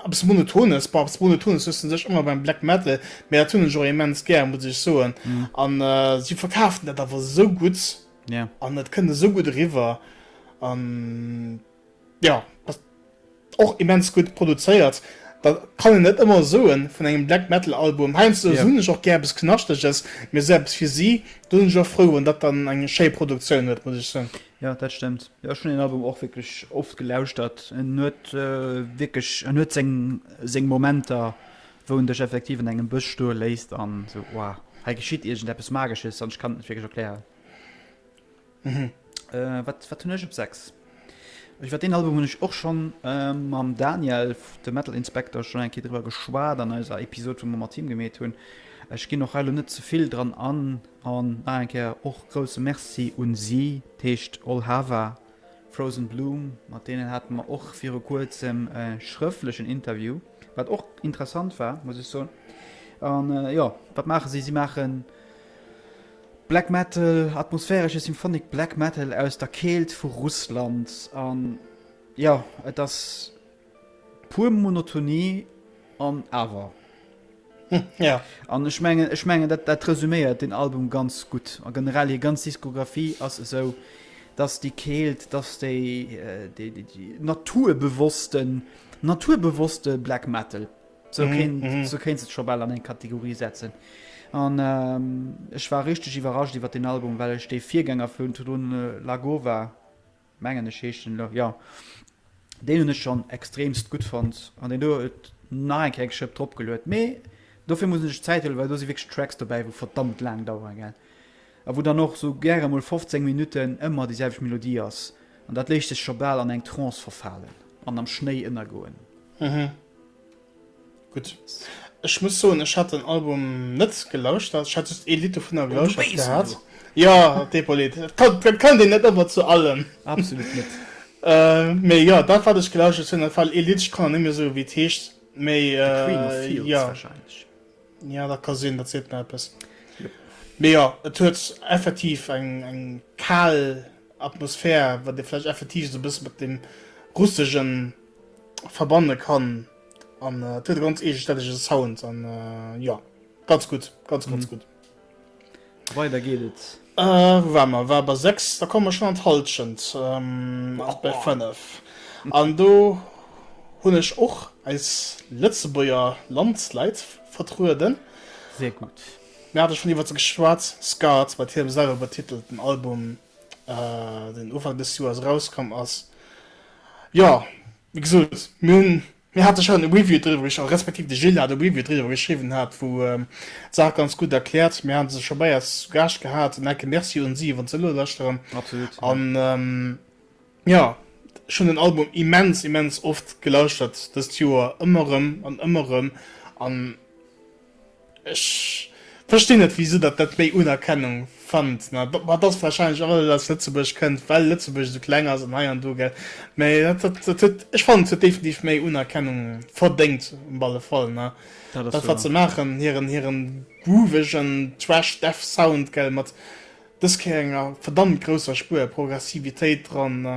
[SPEAKER 2] eppes monotones, bon eppes monotones hues de un sech ëmmer beim Black Metal, mee dat hunn ech och immens gär muss ech soen an si verkafen dat awer esou gutt an et kënnt esou gutt eriwwer an. Jo, ass och immens gutt produzéiert. Dat kann een net ëmmer soen vun engem Black Metal Album. Heiansdo hunn ech och gär eppes Knaschtreges, mee esou eppes fir si, do sinn ech och frou wann dat dann eng schéi Produktioun huet, muss ech soen. Jo, dat stëmmt.
[SPEAKER 1] Jo, ech hunn deen Album och wierklech oft gelauschtert. En huet wierklech, en huet seng, seng Momenter, wou en dech effektiv an engem Bësch stoe léisst an esou, Wow, hei geschitt iergend eppes Magesches an ech kann et net wierklech erklären. Hm, wat hunn ech op 6? Ech war, deen Album hunn ech och schonn mam Daniel, dem Metal Inspector, schonn eng Kéier driwwer geschwat an eiser Episod, wou mer mat him gemeet hunn. Ech ginn och hei elo net ze vill dran an. An nach eng Kéier och grousse Merci un si, d'heescht All Hava, Frozen Bloom. Mat deenen hate mer och viru kuerzem e schrëftlechen Interview, wat och interessant war, muss ech soen. An jo, wat maache si? Si maachen. Black Metal, atmosphäresche Symphonic Black Metal aus der Keelt vu Russland. An jo, et ass puer Monotonie an awer.
[SPEAKER 2] Ja. An ech mengen,
[SPEAKER 1] ech mengen dat, dat resüméiert den Album ganz gutt. A generell hir ganz Diskografie ass esou, dass déi Keelt, dass déi, äh, déi, déi, déi naturbewossten, naturbewosste Black Metal. Sou kéints et scho bal an eng Kategorie setzen. An ech war richteg iwwerrascht iwwer deen Album, well ech dee Virgänger vun Tudun Lagova, mengen ech heescht en, jo, deen hunn ech schonn extreemst gutt fonnt an deen do huet nach eng Kéier eng Schëpp dropgeluet. Mee dofir muss een sech Zäit huelen, well do si wierklech Tracks dobäi, wou verdammt laang daueren. A wou dann och esou gäre mol 15 Minutten ëmmer déi selwecht Melodie ass, an dat léisst dech scho bal an eng Trance verfalen an am Schnéi ënnergoen. Mhm.
[SPEAKER 2] Gutt. Ech muss soen, ech hat den Album net gelauschtert. Ech hat just ee Lidd dovunner Oh, du gelauschtert weess gehat. elo. Jo, d'Epaulette. Dat kënnt een net ëmmer zu allem. Absolut net.
[SPEAKER 1] Mee
[SPEAKER 2] jo, dat wat ech gelauschtert hunn, dat war ee Lidd, ech kann elo net méi soen, wéi et heescht, mee The Queen of Fields jo. warscheinlech.
[SPEAKER 1] Ja dat ka
[SPEAKER 2] sinn, dat seet mer eppes. Mee jo, et huet effektiv eng eng kal Atmosphär, wat ee vläicht effektiv esou e bësse mat deem Russegen verbanne kann. An et huet e ganz eegestännege Sound an jo, ganz gutt, ganz ganz gutt.
[SPEAKER 1] Weider geet et. Äh, wou war mer? War
[SPEAKER 2] bei 6, da komme mer schonn an d'Hallschent, ähm, och bei 5. An do hunn ech och eis Lëtzebuerger Landsleit vertrueden. Sehr gut.
[SPEAKER 1] Mir hate schonn iwwert
[SPEAKER 2] se geschwat, Skat, mat hirem selwer betitelten Album, deen Ufank des Joers erauskomm ass. Jo, wéi gesot, mir hunn Mir hate schonn e Review driwwer geschriwwen, respektiv de Gilles hat e Review driwwer geschriwwen, hat wou d'Saach ganz gutt erkläert. Mir hate se scho bei eis zu Gaascht gehat an enke Merci un si wann se elo lauschteren. Absolut, ja. An jo, ech hunn den Album immens, immens oft gelauschtert dëst Joer, ëmmer erëm an ëmmer erëm an. Ech verstinn net wisou datt dat méi Unerkennung fannt, ma dat ass wahrscheinlech och well et aus Lëtzebuerg kënnt, well Lëtzebuerg esou kleng ass an hei an do, gell? Mä dat huet, ech fannen et huet definitiv méi Unerkennung verdéngt op alle Fall, ne? Dat ass Dat wat se wahr. maachen, hiren hiren groovegen Thrash Death Sound, gell, mat dës Kéier enger verdammt grousser Spuer Progressivitéit dran, ne?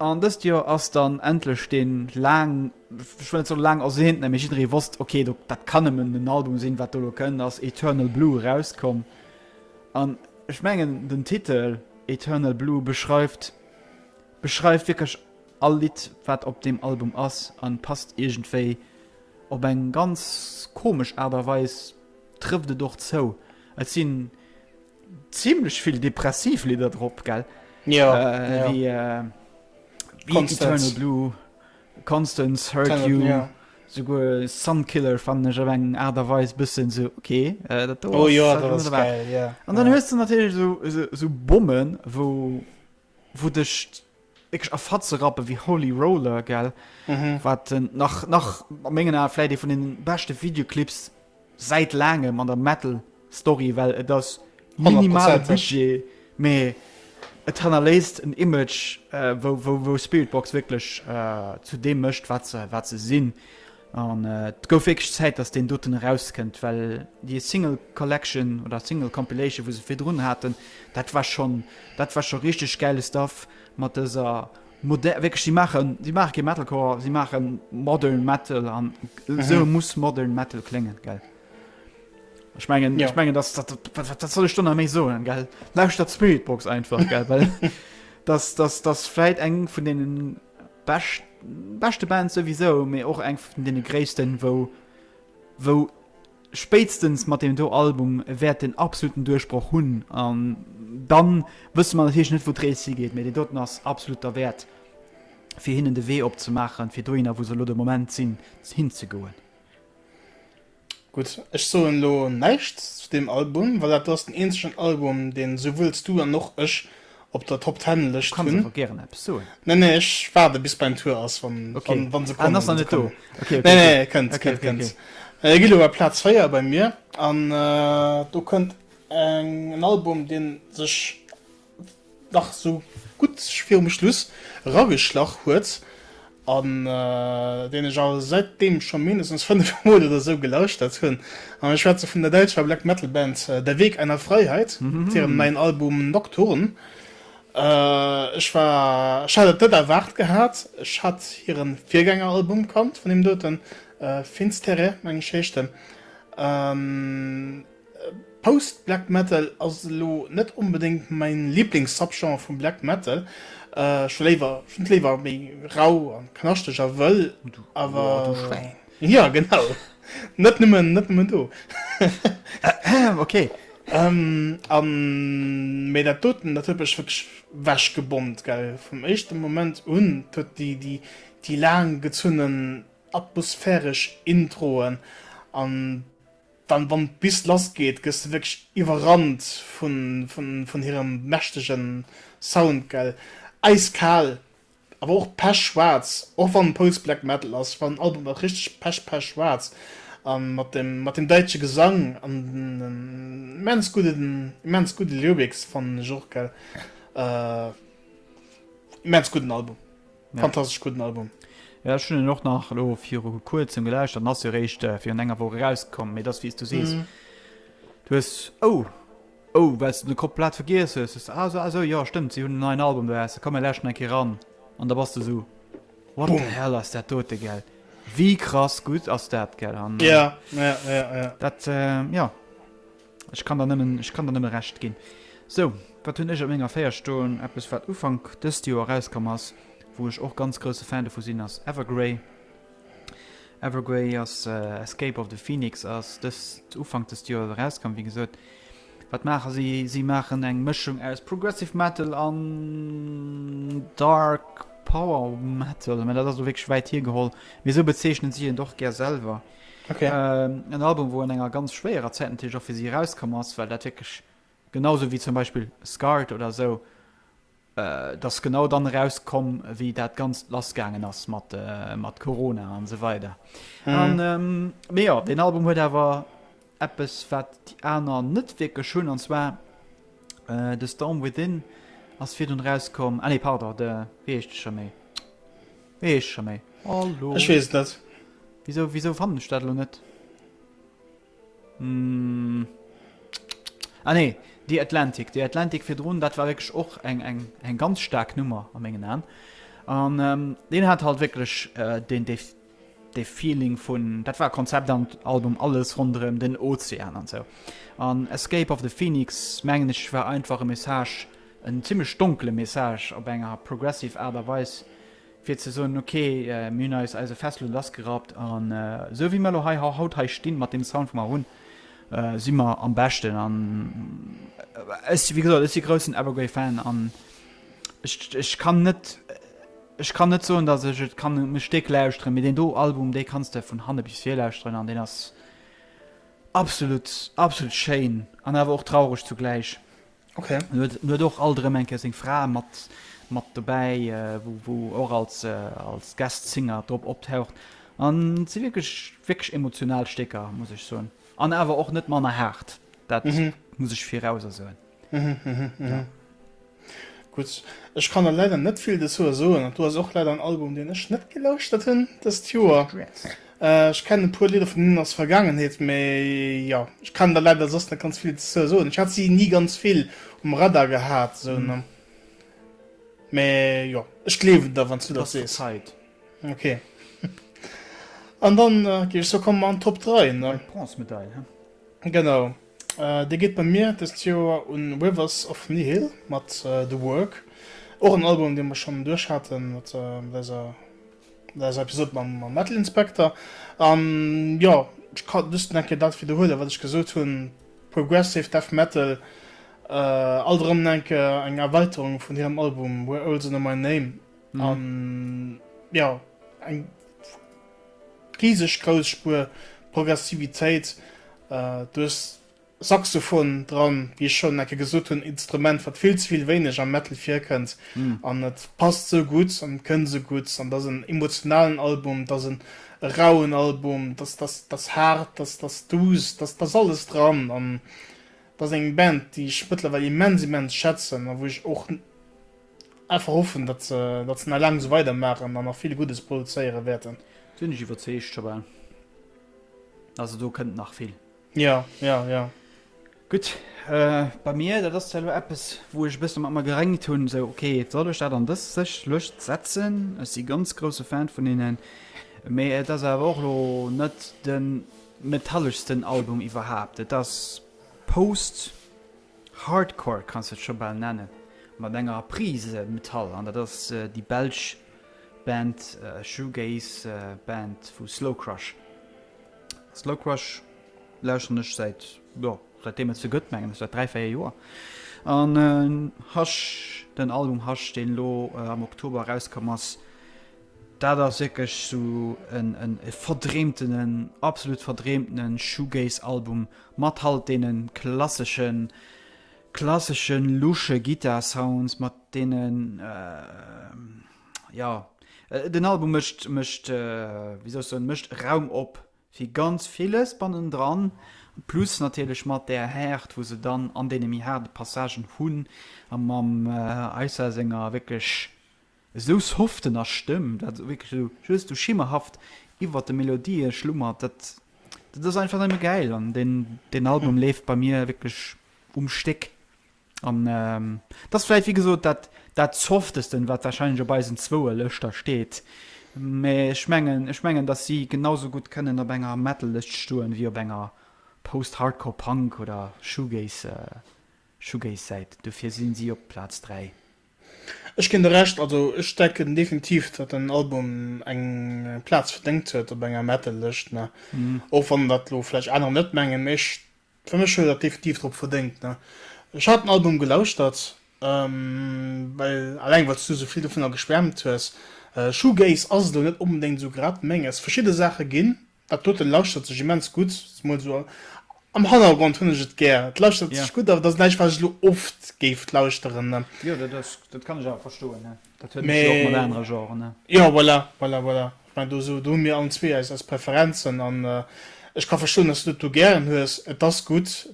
[SPEAKER 1] An dëst Joer ass dann endlech dee laang, ech wëll net soen laang ersehnten, mee jidderee wosst, okay, do, dat kann nëmmen en Album sinn, wat do elo kënnt, ass Eternal Blue erauskomm. An ech mengen, den Titel Eternal Blue beschreift, beschreift wierklech all Lidd, wat op deem Album ass a passt iergendwéi op eng ganz komesch Aart a Weis, trëfft et och zou. Et sinn. Zimlech vill depressiv Lidder drop gell ja, äh, ja. Wie, äh, Constance. Blue, Constance hurt Tenant, you ja. Sugur Sunkiller fan ech op eng Art a Weis bëssen se okay äh, dat oh, ja, dat geil, ja. An dann ja. hues du natierlech so, so, so Bommen wou wou dech wierklech a Fatze rappen wéi Holy Roller, gell? Wat nach, nach a mengen Ae vläit ee vun den beschte Videoclips säit laangem an der Metal-Story, well et ass minimale Honnertprozenteg. Budget, mee et hannerléisst en Image, wou, wou, wou Spiritbox wierklech zu deem mécht, wat se, wat se sinn. An et gouf wierklech Zäit, datt deen doten erauskënnt, well déi Single Collection oder Single Compilation, wou se virdrun haten, dat war schonn, dat war scho richteg gäile Stuff mat dëser moder-, wierklech, si maachen, si maache kee Metalcore, si maache modern Metal an esou muss modern Metal kléngen, gell? Ech mengen, ech mengen, datt dat, wat, wat soll ech do nach méi soen, gell? Lauschtert Spiritbox einfach, gell, well datt, datt, datt vläit eng vun deenen. Bescht beschte Band souwisou, mee och eng vun deene gréissten, wou wou spéitstens mat deem do Album wäert den absoluten Duerchbroch hunn an dann wësse mer natierlech net wou d'Rees higeet, mee dee doten ass absolut derwäert fir hinnen de Wee opzemaachen fir dohinner wou se elo de Moment sinn, hinzegoen.
[SPEAKER 2] Gutt, ech soen elo näischt zu deem Album, well dat ass den eenzegen Album, deen esouwuels du an och ech op der Top Ten Lëscht hunn. Du kanns awer gären eppes
[SPEAKER 1] soen. Nee, nee, ech waarde
[SPEAKER 2] bis beim Tour ass, wann se kommen. Ah, se ass nach net do.
[SPEAKER 1] Nee, nee,
[SPEAKER 2] kënnt,
[SPEAKER 1] kënnt,
[SPEAKER 2] kënnt. E geet elo bei Plaz 4 bei mir an do kënnt en Album, dee sech. nach esou gutt fir um Schluss erageschlach huet an deen ech awer säitdeem scho mindestens fënnef Mol oder esou gelauschtert hunn. An ech schwätze vun der däitscher Black Metal Band Der Weg einer Freiheit mat hirem neien Album Nocturne. Ech war, ech hat et net erwaart gehat, ech hat hiren Virgängeralbum kannt vun deem doten, Finsterre meng ech heescht en. Post Black Metal ass elo net onbedéngt mäin Liblings-Subgenre vum Black Metal, ech hu et léiwer méi rau a knaschteg a wëll,
[SPEAKER 1] mee
[SPEAKER 2] dat doten dat huet mech wierklech wechgebommt, vum éischte Moment un, et huet déi laang gezunnen atmosphäresch Introen an. Dann wann d'Bus lass geet gëss de wierklech iwwerrannt vun vun hirem mächtegen Sound gell. Äiskaal awer och pech schwaarz, och wann Post Black Metal ass, wann en Album ass richteg pech pech schwaarz an mat dem mat dem däitsche Gesang an den immens gudden immens gudde Lyrics fannen ech och gell. Immens gudden Album. Fantastesch gudden Album. Jo ech hunn en och
[SPEAKER 1] nach elo viru kuerzem gelauscht, an ass jo réischt virun enger Woch erauskomm, mee et ass wéi s du sees. Du hues, oh, oh well s de de komplett vergiess hues, hues de, ah esou, ah esou, jo stëmmt, si hunn en neien Album dobausse, komm mir lauschten eng Kéier eran. An da bass de esou, what the hell ass dat dote gell, wéi krass gutt ass dat gell. An
[SPEAKER 2] dat,
[SPEAKER 1] jo. Ech kann der nëmmen, ech kann der nëmme Recht ginn. Sou, wat hunn ech op menger Féier stoen? Eppes, wat Ufank dëst Joer erauskomm ass, wou ech och ganz grousse Fan dovu sinn, ass Evergrey. Evergrey ass, Escape of the Phoenix ass dëst, Ufank dëst Joer erauskomm. Wéi gesot, wat maache si? Si maachen eng Mëschung aus Progressive Metal an Dark Power Metal, mä dat ass elo wierklech wäit hiergeholl, mee sou bezeechnen si hiert och gär selwer. Okay. Ähm,
[SPEAKER 2] en Album, wo
[SPEAKER 1] an enger ganz schwéierer Zäit natürlich auch für sie rauskomm ass, well dat wirklich genauso wie zum Beispiel Scarred oder so äh, das genau dann rauskomm, wie dat ganz lassgaangen ass mat äh, mat Corona an so weiter. Mhm. An ähm, mee ja, den Album huet awer eppes wat die aner net wirklich schön an zwar äh, The Storm Within ass fir dun rauskomm. Ah nee, pardon, de wie heescht de schon méi? Nee, ech schon méi. Hallo. Ech wees net.
[SPEAKER 2] Wieso, wieso
[SPEAKER 1] fannen ech dat lo net? Mm. Ah nee, die Atlantic. Die Atlantic fir drun, dat war wirklich och eng, eng, eng ganz stark Nummer am engen Aan. An ähm, den hat halt wirklich äh, den, den, den Feeling vun, dat war Konzept am Album alles rondrem den Ozean an so. An Escape of the Phoenix, mengen ich, war einfach e Message, En zimlech donkele Message op enger progressive Aart a Weis, fir ze soen, ok, mir hunn eis eise Fessele lassgerappt an esou wéi mir elo hei haut hei stinn, mat deem Sound wou mer hunn, si mer am beschten an ech, wéi gesot, ech si groussen Evergrey Fan an ech, ech kann net, ech kann net soen, datt ech et kann e Stéck lauschteren, mee deen do Album, dee kanns de vun hanne bis vir lauschteren an deen ass absolut, absolut schéin an awer och traureg zugläich. Ok.
[SPEAKER 2] En huet och alt
[SPEAKER 1] erëm eng Kéier seng Fra mat, mat dobäi, wou, wou och als, als Guest Singer drop optaucht. An et si wierklech, wierklech emotional Stécker, muss ech soen. An awer och net manner haart. Dat muss ech virauser soen.
[SPEAKER 2] Ja. Gutt. Ech kann der leider net vill dozou soen. Dat do ass och leider en Album, deen ech net gelauschtert hunn dëst Joer. Ech kennen e puer Lidder vun hinnen aus Vergangenheet, mee jo ech kann der leider soss net ganz vill dozou soen. Ech hat si ni ganz vill um Radar gehat esou ne, mee jo ech gleewen der wanns du dat sees. Ok an dann giff ech
[SPEAKER 1] soe
[SPEAKER 2] komme mer an d'Top 3 ne. D'Bronzemedail he. Genau déi geet bei mir dëst Joer un Rivers of Nihil mat The Work, och en Album dee mer schonn duerch haten mat dëser. Dat ass Episode mam Metal Inspector. An jo, ech kann just nach eng Kéier dat widderhuelen, wat ech gesot hunn, Progressive Death Metal, alt erëm nach eng Kéier eng Erweiterung vun hirem Album We're Olds Under My Name. An jo, eng riseg grouss Spuer Progressivitéit. Du hues Saxophon dran, wéi ech schonn enke gesot hunn, Instrument wat vill ze vill wéineg am Metal virkënnt an et passt sou gutt an et kënnt esou gutt an et ass en emotionalen Album, et ass en rauen Album, et ass et ass haart, et ass et ass duuss, et ass et ass alles dran an et ass eng Band déi ech mëttlerweil immens immens schätzen a wou ech och einfach hoffen datt se datt se nach laang esou weider maachen an nach vill Guddes produzéiere wäerten. Sinn ech iwwerzeegt,
[SPEAKER 1] Shabelle, also do kënnt nach vill. Jo, jo,
[SPEAKER 2] jo.
[SPEAKER 1] Gutt, bei mir, dat ass zwar elo eppes, wou ech e bësse mat mer geréngt hunn, esou, ok, soll ech dat an dës séch Lëscht setzen? Ech si ganz grousse Fan vun hinnen, mee et ass awer och elo net de metalleschsten Album iwwerhaapt. Et ass Post-Hardcore, kanns de et scho bal nennen, mat enger Prise Metall, an dat ass déi belsch Band, Shoegaze-Band vu Slowcrush. Slow Crush lauschteren ech säit jo säit deem et se gëtt mengen ech säit 3 4 Joer an Hush den Album Hush deen elo am Oktober erauskomm ass dat ass wierklech sou en en e verdreemtenen absolut verdreemtene Shoegaze Album mat halt deene klasseschen klasseschen lusche Guitar Sounds mat deenen ja äh, den Album mëcht mëcht äh, wie soll soen mëcht Raum op fir ganz villes bannen dran plus natierlech mat der Häert wo se dann an deene méi haarde Passagen hunn a mam äh, Eisa senger wécklech esou softener Stëmm dat esou wécklech esou just esou schimmerhaft iwwer de Melodië schlummert dat dat ass einfach nëmme gäil an den den Album leeft bei mir wécklech um Stéck. An et ass vläicht, wéi gesot, dat dat Softesten, wat warscheinlech op eisen zwouer Lëschter steet. Mä ech mengen, ech mengen, datt si genau sou gutt kënnen op enger Metal-Lëscht stoen, wéi op enger Post-Hardcore Punk oder Shoegaze Shoegaze-Säit. Dofir si si op Plaz 3. Ech ginn
[SPEAKER 2] der Recht. Also ech denken definitiv, datt den Album eng Plaz verdéngt huet op enger Metal-Lëscht. Och wann dat elo vläicht anerer net mengen. Mä ech Fir mech huet dat definitiv drop verdéngt. Ne ech hat den Album gelauschtert well alleng wat's du sou vill dovunner geschwärmt hues. Shoegaze ass et elo net onbedéngt sou grad menges. Verschidde Saache ginn, dat doten lauschtert sech immens gutt, mol sou am Hannergrond hunn ech et gär, et lauschtert sech gutt, awer et ass näischt wat ech elo oft géif lauschteren. Jo
[SPEAKER 1] dat kann ech awer verstoen. Dat huet natierlech och mat anere Genren, ne?
[SPEAKER 2] Jo, voilà, voilà, voilà. Ech mengen, do sou, do hu mir allen zwee eis, eis Preferenzen an ech ka verstoen, dass du dat do gären hues. Et ass gutt,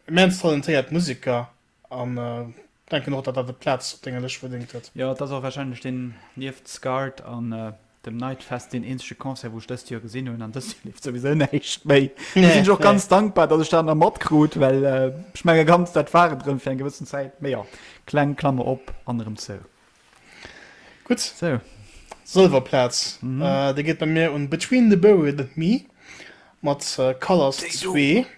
[SPEAKER 2] immens talentéiert Museker an denken och, dat dat e Plaz op denger Lëscht verdéngt huet. Jo, et ass och wahrscheinlech deen,
[SPEAKER 1] nieft Scarred an Dem Night Fest, deen eenzege Concert, wou ech dëst Joer gesinn hunn, an dëst Joer leeft souwisou näischt méi. Do sinn ech och ganz dankbar, datt ech dat nach matkrut, well ech menge ganz dat war et erëm fir eng gewëssen Zäit. Mee jo, kleng Klammer op an erëm zou.
[SPEAKER 2] Gutt. Sou. Sëlwer Plaz, déi geet bei mir un Between the Buried and Me mat Colors zwee. Déi do.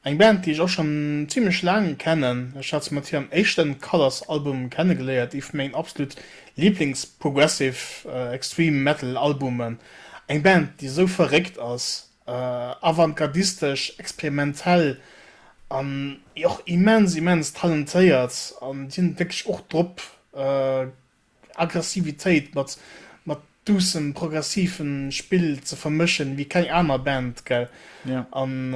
[SPEAKER 2] Eng Band déi ech och schon zimlech laang kennen, ech hat se mat hirem éischten Colours Album kennegeléiert, ee vu mengen absolut Lieblings Progressive Extreme Metal Albumen. Eng Band déi esou verréckt ass, avantgardistesch, experimentell an jo och immens immens talentéiert an déi hunn et wierklech och drop. Aggressivitéit mat mat doucem progressiven Spill ze vermëschen wéi keng aner Band, gell? Ja. An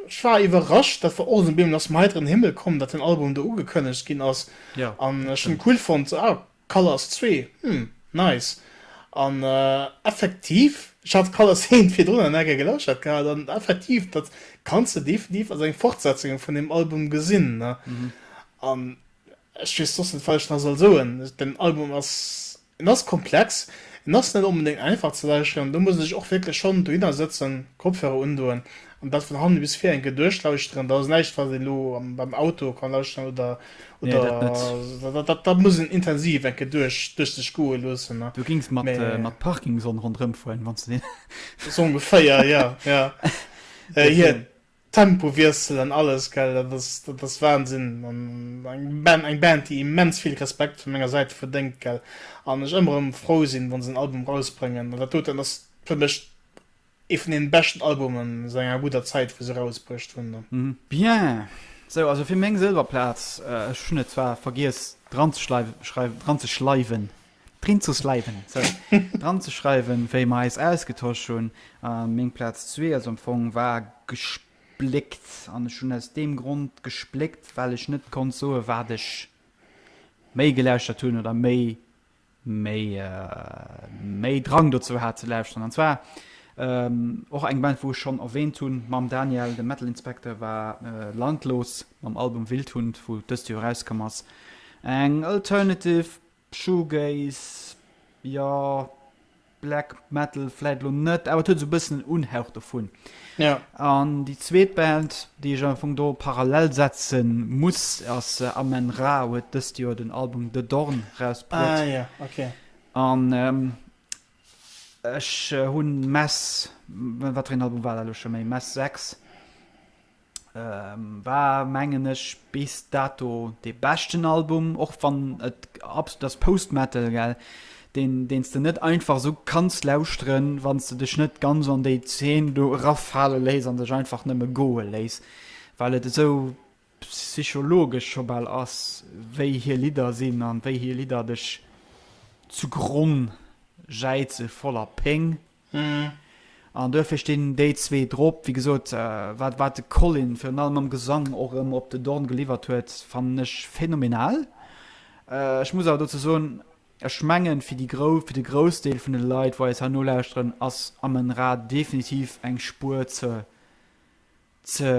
[SPEAKER 2] ech war iwwerrascht, dat war och en Bemol aus dem heiteren Himmel komm, dat den Album do ugekënnegt ginn ass. Ja, An dat ech hunn
[SPEAKER 1] stimmt. cool fonnt,
[SPEAKER 2] so, ah, Colors zwee, hm, nice. An effektiv, ech hat Colors eent virdrun an Ecker gelauschtert gehat, an effektiv, dat kanns de definitiv als eng Fortsetzung vun deem Album gesinn, ne? An Ech weess soss net wat ech nach soll soen. Den Album ass, en ass komplex, en ass net onbedéngt einfach ze lauschteren, do muss een sech och wierklech schonn dohinner sëtzen, Kopfhörer undoen an dat vun hannen bis vir eng Kéier duerchlauschteren. Dat ass näischt wat een elo beim Auto kann lauschteren oder oder dat muss een intensiv eng Kéier duerch duerch sech goe loossen. Do gings mat
[SPEAKER 1] mat Parkinson ronderëm
[SPEAKER 2] fueren
[SPEAKER 1] wanns de deen.
[SPEAKER 2] Esou
[SPEAKER 1] ongeféier, jo, jo.
[SPEAKER 2] Hien Tempowiessel an alles, gell, dat ass, dat ass Wahnsinn an eng Band, eng Band, déi immens vill Respekt vun menger Säit verdéngt, gell, an ech ëmmer erëm frou sinn, wa se en Album rausbréngen an dat doten, dat ass fir mech ee vun deene beschten Albumen säit enger gudder Zäit, wou se rausbruecht hunn an. Bien,
[SPEAKER 1] sou, also fir meng Sëlwerplaz, ech hunn et zwar vergiess dranzeschreiwen, Drin zu sliven, sorry, dran ze schreiwen, wéi mer eis ausgetosch hunn. Äh, meng Platz 2 also am Fong war gespléckt. An ech hunn aus dem Grund gespléckt, well ech net konnt soe wat ech méi gelauschtert hunn oder méi méi äh, méi Drang dozou hat ze lauschteren. An zwar ähm, och eng Band, wou ech schon erwähnt hunn, mam Daniel, de Metal Inspector war äh, landlos mam Album Wildhund, wou dëst Joer rauskomm ass. Eng alternative Shoegaze, jo, Black Metal vläit lo net, awer et huet esou e bëssen en Unhauch dovun. Ja. An
[SPEAKER 2] déi zweet
[SPEAKER 1] Band, déi ech am Fong do parallel setze muss, ass äh, Amen Ra, huet dëst Joer den Album The Dorn rausbruet. Ah ja, okay.
[SPEAKER 2] An
[SPEAKER 1] ähm, ech äh, hunn Mass, wat fir een Album war dat elo scho méi, Mass 6, War mengen ech bis dato dee beschten Album, och wann et absolut ass Post Metal gell, deen deen s de net einfach esou kanns lauschteren, wann s de dech net ganz an déi Zeen do eraffale léiss an dech einfach nëmme goe léiss, well et esou psychologesch scho bal ass, wéi hir Lidder sinn an wéi hir Lidder dech zu Gronn jäize voller Péng. An duerfir stinn déi zwee drop. Wéi gesot, wat wat de Colin virun allem am Gesang och erëm op den Dorn geliwwert huet, fannen ech phänomenal. Ech muss awer dozou soen, ech mengen, fir déi grou fir de Groussdeel vun de Leit, wou eis hei nolauschteren, ass Amon-Ra definitiv eng Spuer ze ze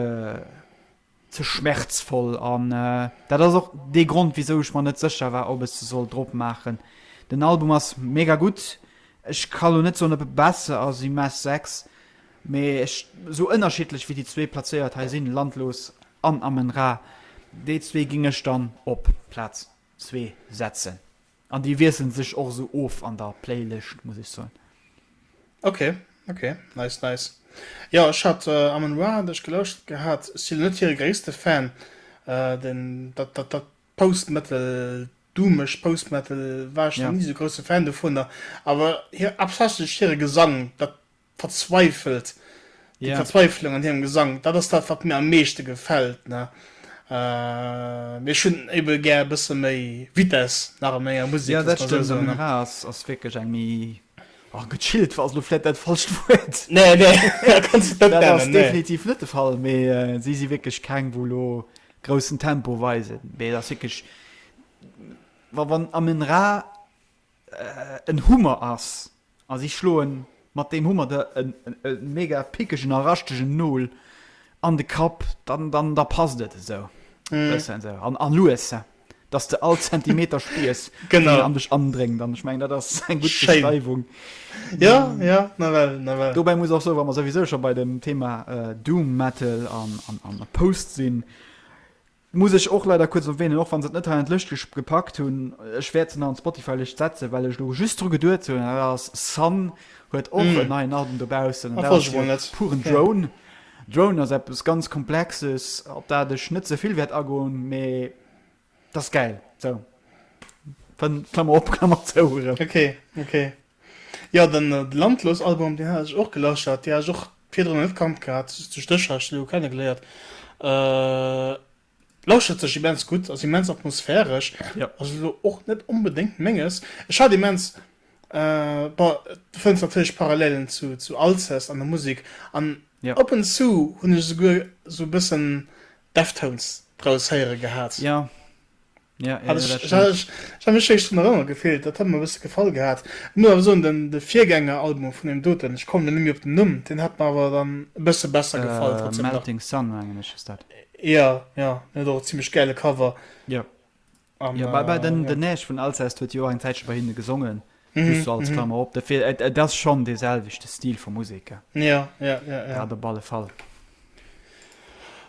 [SPEAKER 1] Ze schmerzvoll an dat ass och dee Grond wisou ech mer net secher war op ech se soll drop maachen. Den Album ass mega gutt, ech ka lo net soen op e besser ass ewéi Mass Sex, mee ech sou ënnerschiddlech wéi déi zwee Plazéiert hei sinn, Landlos an Amen Ra, déi zwee géing ech dann op Plaz zwee setzen. An déi wiesselen sech och esou of an der Playlëscht, muss ech soen. Ok,
[SPEAKER 2] ok, nice, nice. Jo, ech hat Amon Ra an dech gelauschtert gehat. Ech sinn elo net hire gréisste Fan. Den, dat, dat, dat Post-Metal, doomeg Post-Metal, war ech nach ni esou grousse Fan dovunner. Awer hir, haaptsächlech hire Gesang, dat verzweifelt, déi Verzweiflung an hirem Gesang, dat ass dat, wat mir am meeschte gefält. Mä ech hunn ebe gär e bësse méi Vitess nach a menger Musek. Jo, dat stëmmt. De Munera
[SPEAKER 1] ass wierklech eng méi, oh, gechillt war ass elo vläicht dat falscht Wuert. Nee, nee,
[SPEAKER 2] dat kanns de net nennen. Dat ass definitiv net de Fall.
[SPEAKER 1] Mee si si wierklech keng, wou elo groussen Tempo weisen. Mee et ass wierklech, wa wann am Munera en Hummer ass. A si schloen mat deem Hummer der e mega pickegen a raschtegen Nol an de Kapp, dann da passt et esou e bëssen esou an lues, dass s de all Zentimeter spiers, deen an dech andréngt.
[SPEAKER 2] An ech
[SPEAKER 1] mengen, dat ass eng gutt Beschreiwung. Schéin. Jo,
[SPEAKER 2] jo, nawell, nawell.
[SPEAKER 1] Dobäi muss och soen, wa mer souwisou scho bei dem Thema Doom Metal an Post sinn, Muss ech och leider kuerz erwähnen, och wann se et net hei an d'Lëscht gepackt hunn, ech wäert se nach an d'Spotify-Lëscht setzen, well ech elo just dru geduet hunn, dat ass Sunn huet och en neien Album dobaussen an dat ass jo puren Drone. Drone ass eppes ganz Komplexes, op dat ech net ze vill wäert agoen, mee dat ass gäil. Sou, Klammer op, Klammer zou erëm. Ok,
[SPEAKER 2] ok. Jo de Landlos Album deen hat ech och gelauschtert, dee hat ech och virdrun net kannt gehat, duerch dech hat ech déi elo kenne geléiert. Lauschtert sech immens gutt, ass immens atmosphäresch, ass elo
[SPEAKER 1] och net
[SPEAKER 2] onbedéngt menges. Ech hat immens, bon du fënns natierlech Parallelen zu zu Alcest an der Musek an ab und zu hunn ech esouguer esou e bëssen Deftones draus héiere gehat.
[SPEAKER 1] Ja, ja, ja, ich, ich, ich
[SPEAKER 2] habe mich schon erinnern gefehlt das hat mir ein bisschen gefallen gehabt muss aber so den, den Viergänger Album von dem doten ich komme nämlich auf den Numm den hat mir aber dann ein bisschen besser äh, gefallen trotzdem Melting noch. Sun eigentlich
[SPEAKER 1] ist das ja ja
[SPEAKER 2] ne, doch ziemlich geile Cover ja
[SPEAKER 1] um, ja bei, bei den, äh, den ja. Näsch von Alcest huet jo eng Zäitche bei hinne gesongen Just so als Klammer op, dofir et, et ass schonn dee selwechte Stil vu Musek, ja. Ja, ja,
[SPEAKER 2] ja, ja. Dat op alle
[SPEAKER 1] Fall.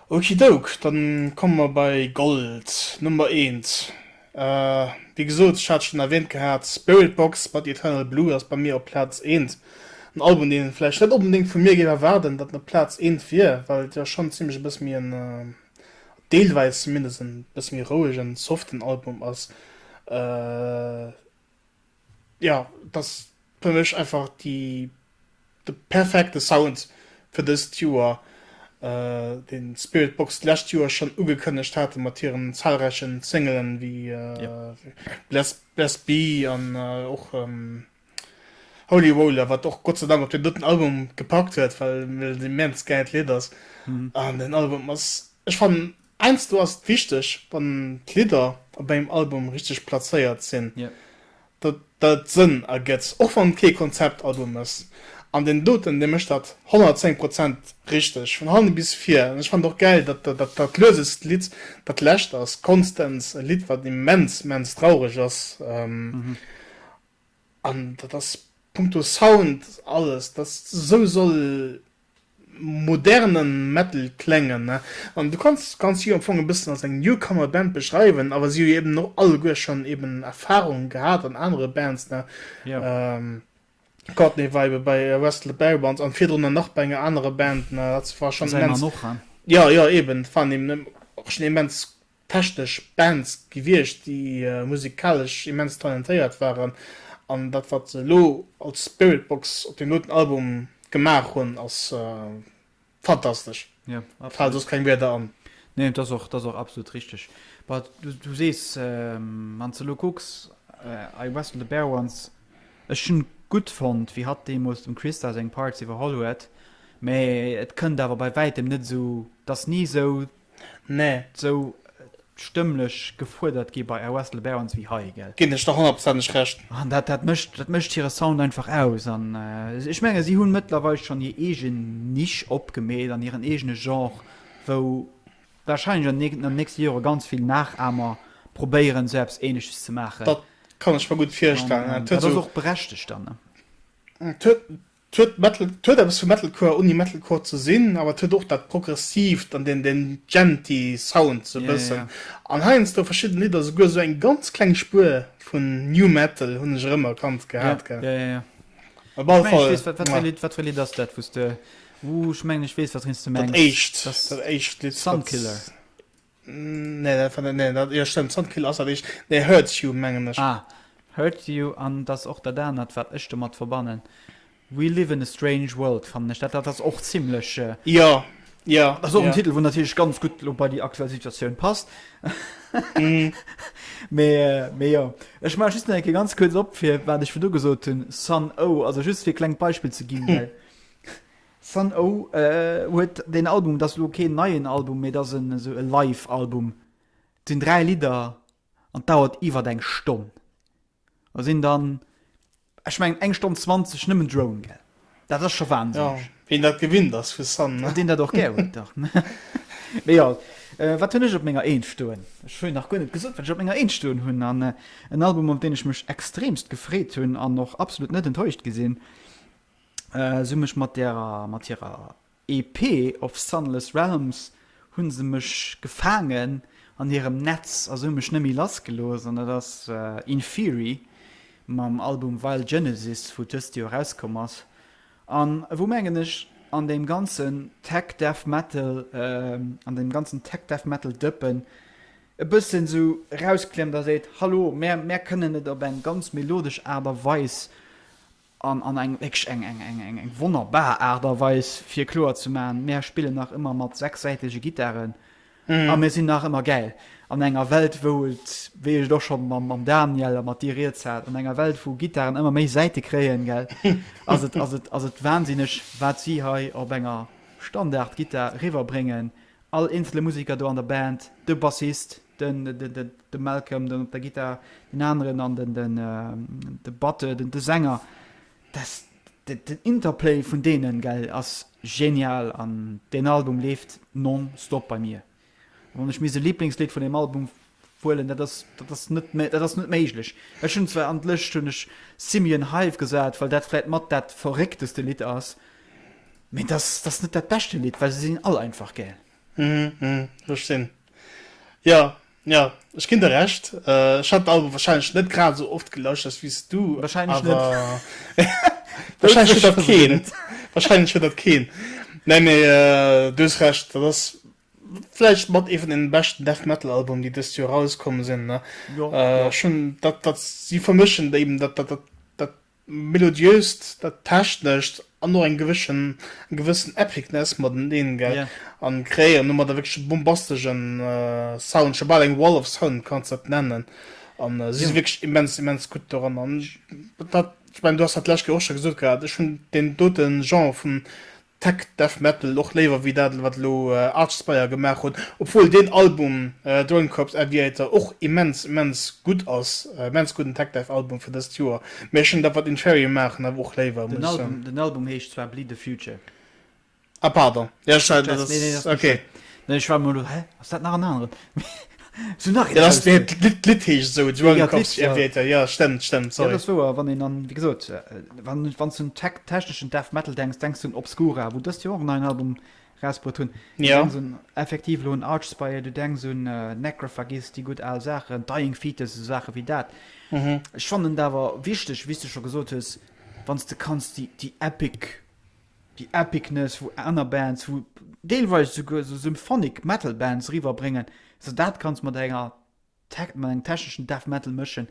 [SPEAKER 2] Okidouk, dann komme mer bei Gold, Nummer eent. Wéi gesot, ech hat schonn erwähnt gehat, Spiritbox mat Eternal Blue ass bei mir op Plaz eent. En Album, deen een vläicht net onbedéngt vu mir géif erwaarden, datt en op Plaz eent wier, well et jo schonn zimmlech e bësse méi en, deelweis zumindest, e bësse méi rouegen, soften Album ass. Ja, et ass fir mech einfach déi, de perfekte Sound fir dëst Joer, deen Spiritbox d'lescht Joer schonn ugekënnegt haten mat hiren zahlräichen Singelen wéi Bless Bless Be an och Holy Roller, wat och Gott sei Dank op deen drëtten Album gepackt huet, well et immens gäilt Lidd ass. An den Album ass, ech fannen, Heiansdo ass et wichteg, wann d'Lidder op engem Album richteg plazéiert sinn, datt et Sënn ergëtt, och wann et kee Konzeptalbum ass. An deen doten, dee mécht dat 110 Prozent richteg, vun hannen bis vir. An ech fannen et och gäil, datt dat luesest Lidd dat lescht ass, Constance, e Lidd, wat immens, immens traureg ass. An dat ass punkto Sound alles, dat esou soll modernen Metal kléngen an du kanns kanns si am Fong e bëssen als eng Newcomer Band beschreiwen, awer si hu jo eben och alleguer schonn eben Erfahrung gehat an anere Bands, ne yeah. Courtney war ebe bei West Le Barons an virdrunner nach bei enger anerer Band, ne dat war schonn immens, ja
[SPEAKER 1] ja eben,
[SPEAKER 2] dat waren eben och schonn immens technesch Bands gewiescht, déi musikalesch immens talentéiert waren, an dat wat se elo als Spiritbox op deem doten Album gemaach hunn ass fantastesch, mir falen soss keng Wierder an. Nee, dat ass
[SPEAKER 1] och absolut richteg. Bah, du sees, wann s de elo kucks, I Wrestle the Bear Once, ech hunn gutt fonnt wéi hatt deemools dem Christa seng Parts iwwerholl huet, mä et kënnt awer bei wäitem net esou, et ass ni esou Nee.
[SPEAKER 2] Sou
[SPEAKER 1] stëmmlech gefuerdert gi bei West Le Barons wéi hei, gell? Ginn ech der honnertprozenteg
[SPEAKER 2] Recht. An dat, dat mécht, dat
[SPEAKER 1] mécht hire Sound einfach aus. An ech menge si hunn mëttlerweil schonn hir eegen Niche opgemeet an hiren eegene Genre, wou warscheinlech an den nächste Jore ganz vill Nachahmer probéieren, sou eppes Ähnleches ze maachen. Dat kann ech mer gutt
[SPEAKER 2] virstellen. An dat ass och berechtegt
[SPEAKER 1] dann. Et huet,
[SPEAKER 2] Et huet eppes vu Metalcore, ouni Metalcore ze sinn, awer et huet och dat Progressiivt an deen djenty Sound sou e bëssen. An heiansdo verschidden Lidder souguer sou eng ganz kleng Spuer vun New Metal, hunn ech erëm erkannt gehat. Ech mengen ech weess, wat fir e Lidd ass dat, wou s de.
[SPEAKER 1] Ech mengen ech weess, wat rinnst de mengs. Dat éischt Lidd. Sunkiller. Nee, dat war net, nee, dat, jo stëmmt, Soundkill ass dat éischt, nee, Hurts You mengen ech. Ah, Hurts You, an et ass och dat anert, wat ech domat verbannen, We Live in a Strange World, fannen ech, dat, dat ass och zimmlech, Jo, jo,
[SPEAKER 2] jo. Dat ass och en
[SPEAKER 1] Titel, wou natierlech ganz gutt elo bei déi aktuell Situatioun passt. Mee, mee jo, ech maache just nach eng Kéier ganz kuerz op, fir wat ech virdu gesot hunn, Son-O, also just fir e klengt Beispill ze ginn, well. Sun O huet deen Album, et ass elo keen neien Album, mee et ass en esou e Live Album, et sinn 3 Lidder an d'dauert iwwert eng Stonn. Da sinn dann, ech mengen eng Stonn 20 nëmmen Drone, gell? Dat ass scho wahnsinneg. Jo, wien dat gewinnt
[SPEAKER 2] ass vu Sun, ne? Deen dat och gär huet, dach.
[SPEAKER 1] Mee jo, wat hunn ech op menger Eent stoen? Ech hunn nach guer net gesot, wat ech op menger Eent stoen hunn. An en Album op deen ech mech extremst gefreet hunn an och absolut net enttäuscht gi sinn. sou mech mat derer mat hirer EP of Sunless Realms hunn se mech gefaangen an hirem Netz a sou mech nemme lass gelooss an dat ass Inferi mam Album Vile Genesis wou dëst Joer erauskomm ass an wou mengen ech an deem ganzen Tech Death Metal an deem ganzen Tech Death Metal Dëppen e bëssen sou rausklemmt a seet hallo mär mär kënnen et op eng ganz melodesch Aart a Weis An an eng wierklech eng eng eng eng eng wonnerbar Aart a Weis fir kloer ze maachen, Mär spillen nach ëmmer mat sechssäitege Gittaren a mir sinn nach ëmmer gäil. An enger Welt wou et, wéi ech et och scho mam mam Daniel a mat dir riets hat, an enger Welt wou Gittaren ëmmer méi Säite kréien, gell, ass et ass et ass et wahnsinneg wat si hei op enger Standard-Gittar eriwwer bréngen, all eenzele Museker do an der Band, de Bassist, de Malcolm dann op der Gittar, deen aneren an de Batteur, de Sänger, dass den Interplay vun deenen, gell, ass genial an deen Album leeft non-stop bei mir. Wann ech misst e Liblingslidd vun deem Album wuelen, dat ass, dat ass net, dat ass net méiglech. Ech hunn zwar an d'Lëscht hunn ech Simian Hive gesat, well dat vläit mat dat verréckteste Lidd ass, mee dat ass net dat beschte Lidd, well se sinn all einfach gäil. Ech
[SPEAKER 2] sinn. Jo, jo, ech ginn der Recht. Ech hat den Album warscheinlech net grad esou oft gelauschtert wéi s du, awer warscheinlech huet dat keen. Warscheinlech huet dat keen. Nee, mee du hues Recht, dat ass vläicht mat ee vun deene beschten Death Metal Albumen, déi dëst Joer erauskomm sinn. Ech hunn
[SPEAKER 1] dat, dat
[SPEAKER 2] si vermëschen eben dat, dat, dat. Melodiöst, dat Technescht an och eng gewëssen Epicness mateneen, gell? A kreéieren
[SPEAKER 1] domadder
[SPEAKER 2] wierklech e bombastesche Sound, scho bal eng Wall of Sound kanns de dat nennen. A si si wierklech immens, immens gutt doran. An ech mengen, du has dat d'lescht Kéier och scho gesot gehat, ech hunn deen dote Genre vun. Tech Death Metal och léiwer wéi dat wat elo Archspire gemaach hunn, obwuel deen Album Drone Corps Aviator och immens immens gutt ass, immens gudden Tech Death Album fir dëst Joer, mee ech hunn dat wat Inferior maachen awer och léiwer, muss ech soen. Den Album heescht
[SPEAKER 1] zwar Bleed The Future. Ah
[SPEAKER 2] pardon, jo ech
[SPEAKER 1] war.
[SPEAKER 2] Ech war mol elo, hä
[SPEAKER 1] ass dat nach en aneren? Sou nach een Ausdrock. D'Lidd
[SPEAKER 2] heescht esou, et war gekoppelt zu engem Wierter. Jo, stëmmt,
[SPEAKER 1] stëmmt,
[SPEAKER 2] sorry. Jo, dat ass wouer. Wann
[SPEAKER 1] een an,
[SPEAKER 2] wéi
[SPEAKER 1] gesot, wann s du un techneschen Death Metal denks, denks du un Obscura, wou dëst Joer och en neien Album erausbruet hunn. Du denks un,
[SPEAKER 2] effektiv
[SPEAKER 1] elo, un Archspire, du denks un Necrophagist, déi gutt al Saachen, Dying Fetus, esou Saache wéi dat. Ech fannen et awer wichteg, wéi s du scho gesot hues, wann s de kanns déi epic déi Epicness wou aner Bands, wou deelweis esouguer esou Symphonic Metal Bands eriwwer bréngen, esou dat Ganzt mat enger Tech, mat engem techneschen Death Metal mëschen,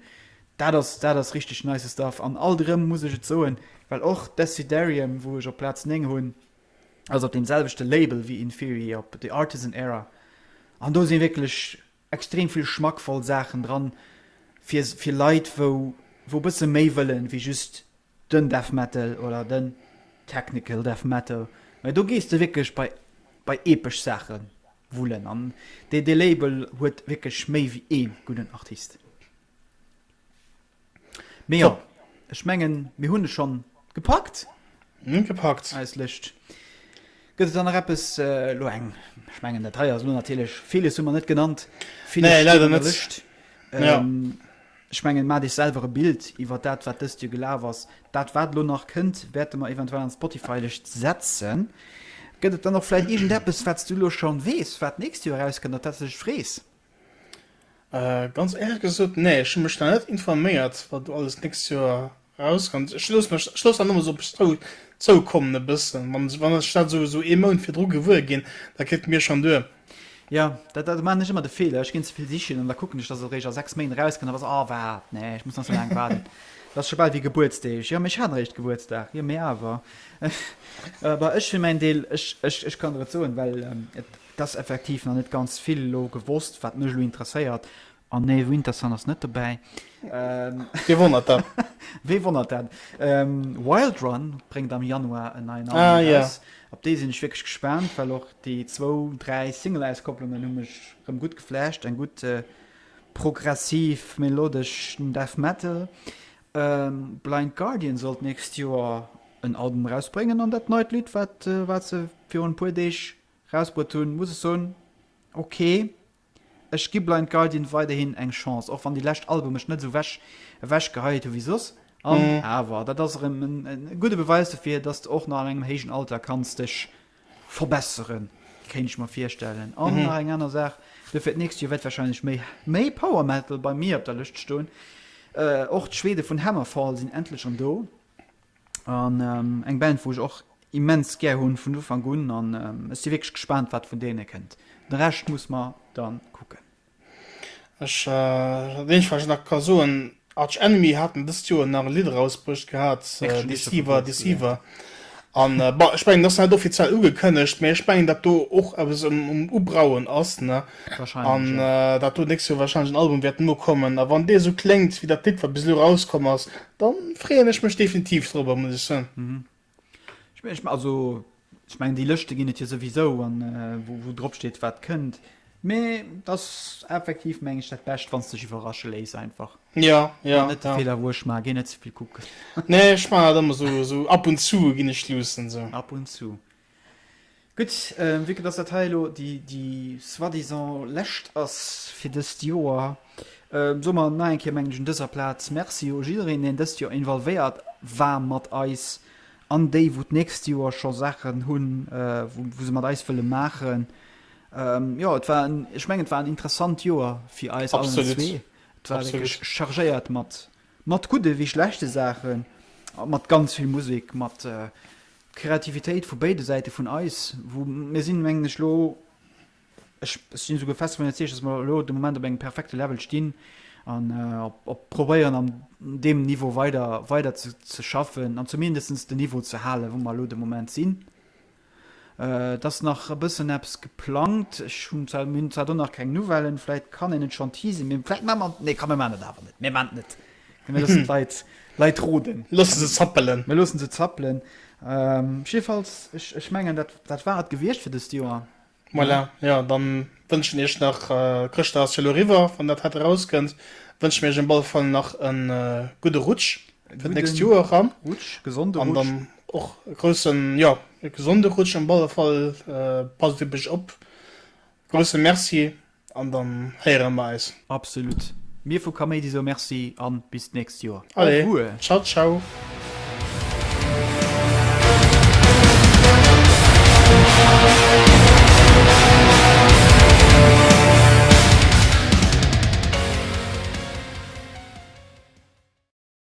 [SPEAKER 1] dat ass, dat ass richteg nice Stuff. An alt erëm muss ech et soen, well och Deciderium, wou ech op Plaz 9 hunn, ass op deem selwechte Label wéi Inferi, op The Artisan Era, an do si wierklech extrem vill schmackvoll Saachen dran, fir, fir Leit wou, wou e bësse méi wëllen, wéi just den Death Metal oder den Technical Death Metal, mä do gees de wierklech bei bei epesch Saache wullen an dee dee Label huet wierklech méi wéi ee gudden Artist. Mee jo, ech
[SPEAKER 2] mengen
[SPEAKER 1] mir hunn e schonn gepackt. Mir hunn gepackt.
[SPEAKER 2] Eis Lëscht.
[SPEAKER 1] Gëtt et dann nach eppes elo eng, ech mengen dat hei ass elo natierlech villes hu mer net genannt, villes steet an der Lëscht.
[SPEAKER 2] Nee, leider net. Ech mengen,
[SPEAKER 1] maacht iech selwer e Bild iwwert dat, wat dëst Joer gelaf ass. Dat, wat elo nach kënnt, wäerte mer eventuell an d'Spotify-Lëscht setzen. Gëtt et dann och vläicht iergendeppes, wat s du elo schonn weess, wat d'nächst Joer erauskënnt, op dat s de dech frees?
[SPEAKER 2] Ganz éierlech gesot, nee. Ech hu mech nach net informéiert, wat elo alles d'nächst Joer Rauskënnt. Ech loosse mech, ech loosse dat nëmme sou op mech zou, zoukommen e bëssen. Wann, wann ech dat sou, sou ee Mount virdru gewuer ginn, da kritt et mir schonn duer. Jo, dat,
[SPEAKER 1] dat, do maachen ech ëmmer de Feeler, ech ginn ze vill sichen an da kucken ech, dass et eréischt a sechs Méint erauskënnt, an da se, oh wat, nee, ech muss nach sou laang waarden. Dat ass scho bal wéi Gebuertsdeeg. Jo, mee ech hat eréischt Gebuertsdag. Jo, mee awer. Awer ech fir mäin Deel, ech, ech, ech kann der et soen, well et, et ass effektiv nach net ganz vill elo gewosst, wat mech elo interesséiert, Ah nee, Wintersun ass net dobäi.
[SPEAKER 2] Wee wonnert dat? Wee wonnert dat?
[SPEAKER 1] Wild Run bréngt am Januar en neien Album eraus. Ah jo. Op dee
[SPEAKER 2] sinn ech wierklech
[SPEAKER 1] gespaant, well och déi zwou, dräi Single-Auskopplungen hu mech rëm gutt geflasht. Eng gutt progressiv, melodesch Death Metal. Blind Guardian sollt d'nächst Joer en Album erausbréngen an dat neit Lidd, wat se virun e puer Deeg erausbruet hunn, muss ech soen, ok. Ech gi Blind Guardian weiderhin eng Chance, och wann déi lescht Album mech net esou wech ewech geheie hu wéi soss. An awer, dat ass erëm en gudde Beweis dofir, dass de och nach an engem héijen Alter kanns dech verbesseren, kéint ech mer virstellen. An nach eng aner Saach, do fir d'nächst Joer wäert wahrscheinlech méi méi Power Metal bei mir op der Lëscht stoen. Och d'Schwede vun Hammerfall sinn endlech erëm do. An eng Band wou ech och immens gär hunn vun Ufank un an ech si wierklech gespaant wat vun deene kënnt. De Rescht muss mer dann kucken.
[SPEAKER 2] Ech dat eenzegt wat ech nach ka soen, Arch Enemy haten dëst Joer nach e Lidd erausbruecht gehat, Deceiver Deceiver, an bon ech mengen et ass net offiziell ugekënnegt, mee ech mengen dat do och eppes um Ubrauen ass ne, an
[SPEAKER 1] dat do
[SPEAKER 2] d'nächst Joer wahrscheinlech en Album wäert nokommen, a wann dee sou kléngt wéi dat Lidd wat bis elo erauskomm ass, Dann freeën ech mech definitiv drobber muss ech soen. Also
[SPEAKER 1] ech mengen déi Lëschte ginn et jo souwisou an wou drop steet wat kënnt. Mee et ass effektiv meng ech dat bescht wann s dech iwwerrasche léiss einfach. Jo jo. Net
[SPEAKER 2] de Feeler wou
[SPEAKER 1] ech maan, géi net zevill kucken. Nee ech maan dat
[SPEAKER 2] ëmmer esou, esou ab und zu ginn ech luussen esou. Ab und zu.
[SPEAKER 1] Gutt, vue que dass dat hei elo déi soi-disant lescht ass fir dëst Joer, soe mer nach eng Kéier, mengen ech, un dëser Plaz Merci u jiddereen, deen dëst Joer involvéiert war mat eis, an déi, wou d'nächst Joer scho Saachen hunn, wou se mat eis wëlle maachen. Jo, et war en, ech mengen, et war en interessant Joer fir eis allen zwee. Et war wierklech chargéiert mat Mat gudde wéi schlechte Saachen a mat ganz vill Musek, mat Kreativitéit vu béide Säite vun eis, wou mir sinn, mengen ech, elo, ech sinn esouguer fest dovun iwwerzeegt, datt mer elo de Moment op engem perfekte Level stinn an op probéieren an deem Niveau weider weider ze schaffen an zumindest de Niveau ze halen, wou mer elo de Moment sinn. Et ass nach e bëssen eppes geplangt. Ech hunn zwar, mir hunn zwar do nach keng Nouvellen, vläit kann een et schonn teasen, mee vläit maache mer, nee komm mir maachen et awer net, mir maachen et net, komm mir loossen d'Leit, Leit roden. Loosse se zappelen.
[SPEAKER 2] Mir loosse se zappelen.
[SPEAKER 1] Jiddefalls, ech, ech mengen dat, dat war et gewiescht fir dëst Joer. Voilà, jo
[SPEAKER 2] dann wënschen iech nach, Chrëschtdag ass jo lo riwwer wann dat hat eraus kënnt, wënschen mir iech op alle Fall nach en gudde Rutsch fir d'nächst Joer eran. Gudden Rutsch, gesonde Rutsch. An dann
[SPEAKER 1] och
[SPEAKER 2] e groussen, jo e gesonde Rutsch op alle Fall, passt op iech op. Grousse Merci. An dann héiere mer eis. Absolut.
[SPEAKER 1] Mir vu Kaméidi soe
[SPEAKER 2] Merci
[SPEAKER 1] a bis d'nächst Joer. Au revoir.
[SPEAKER 2] Ciao,
[SPEAKER 1] ciao.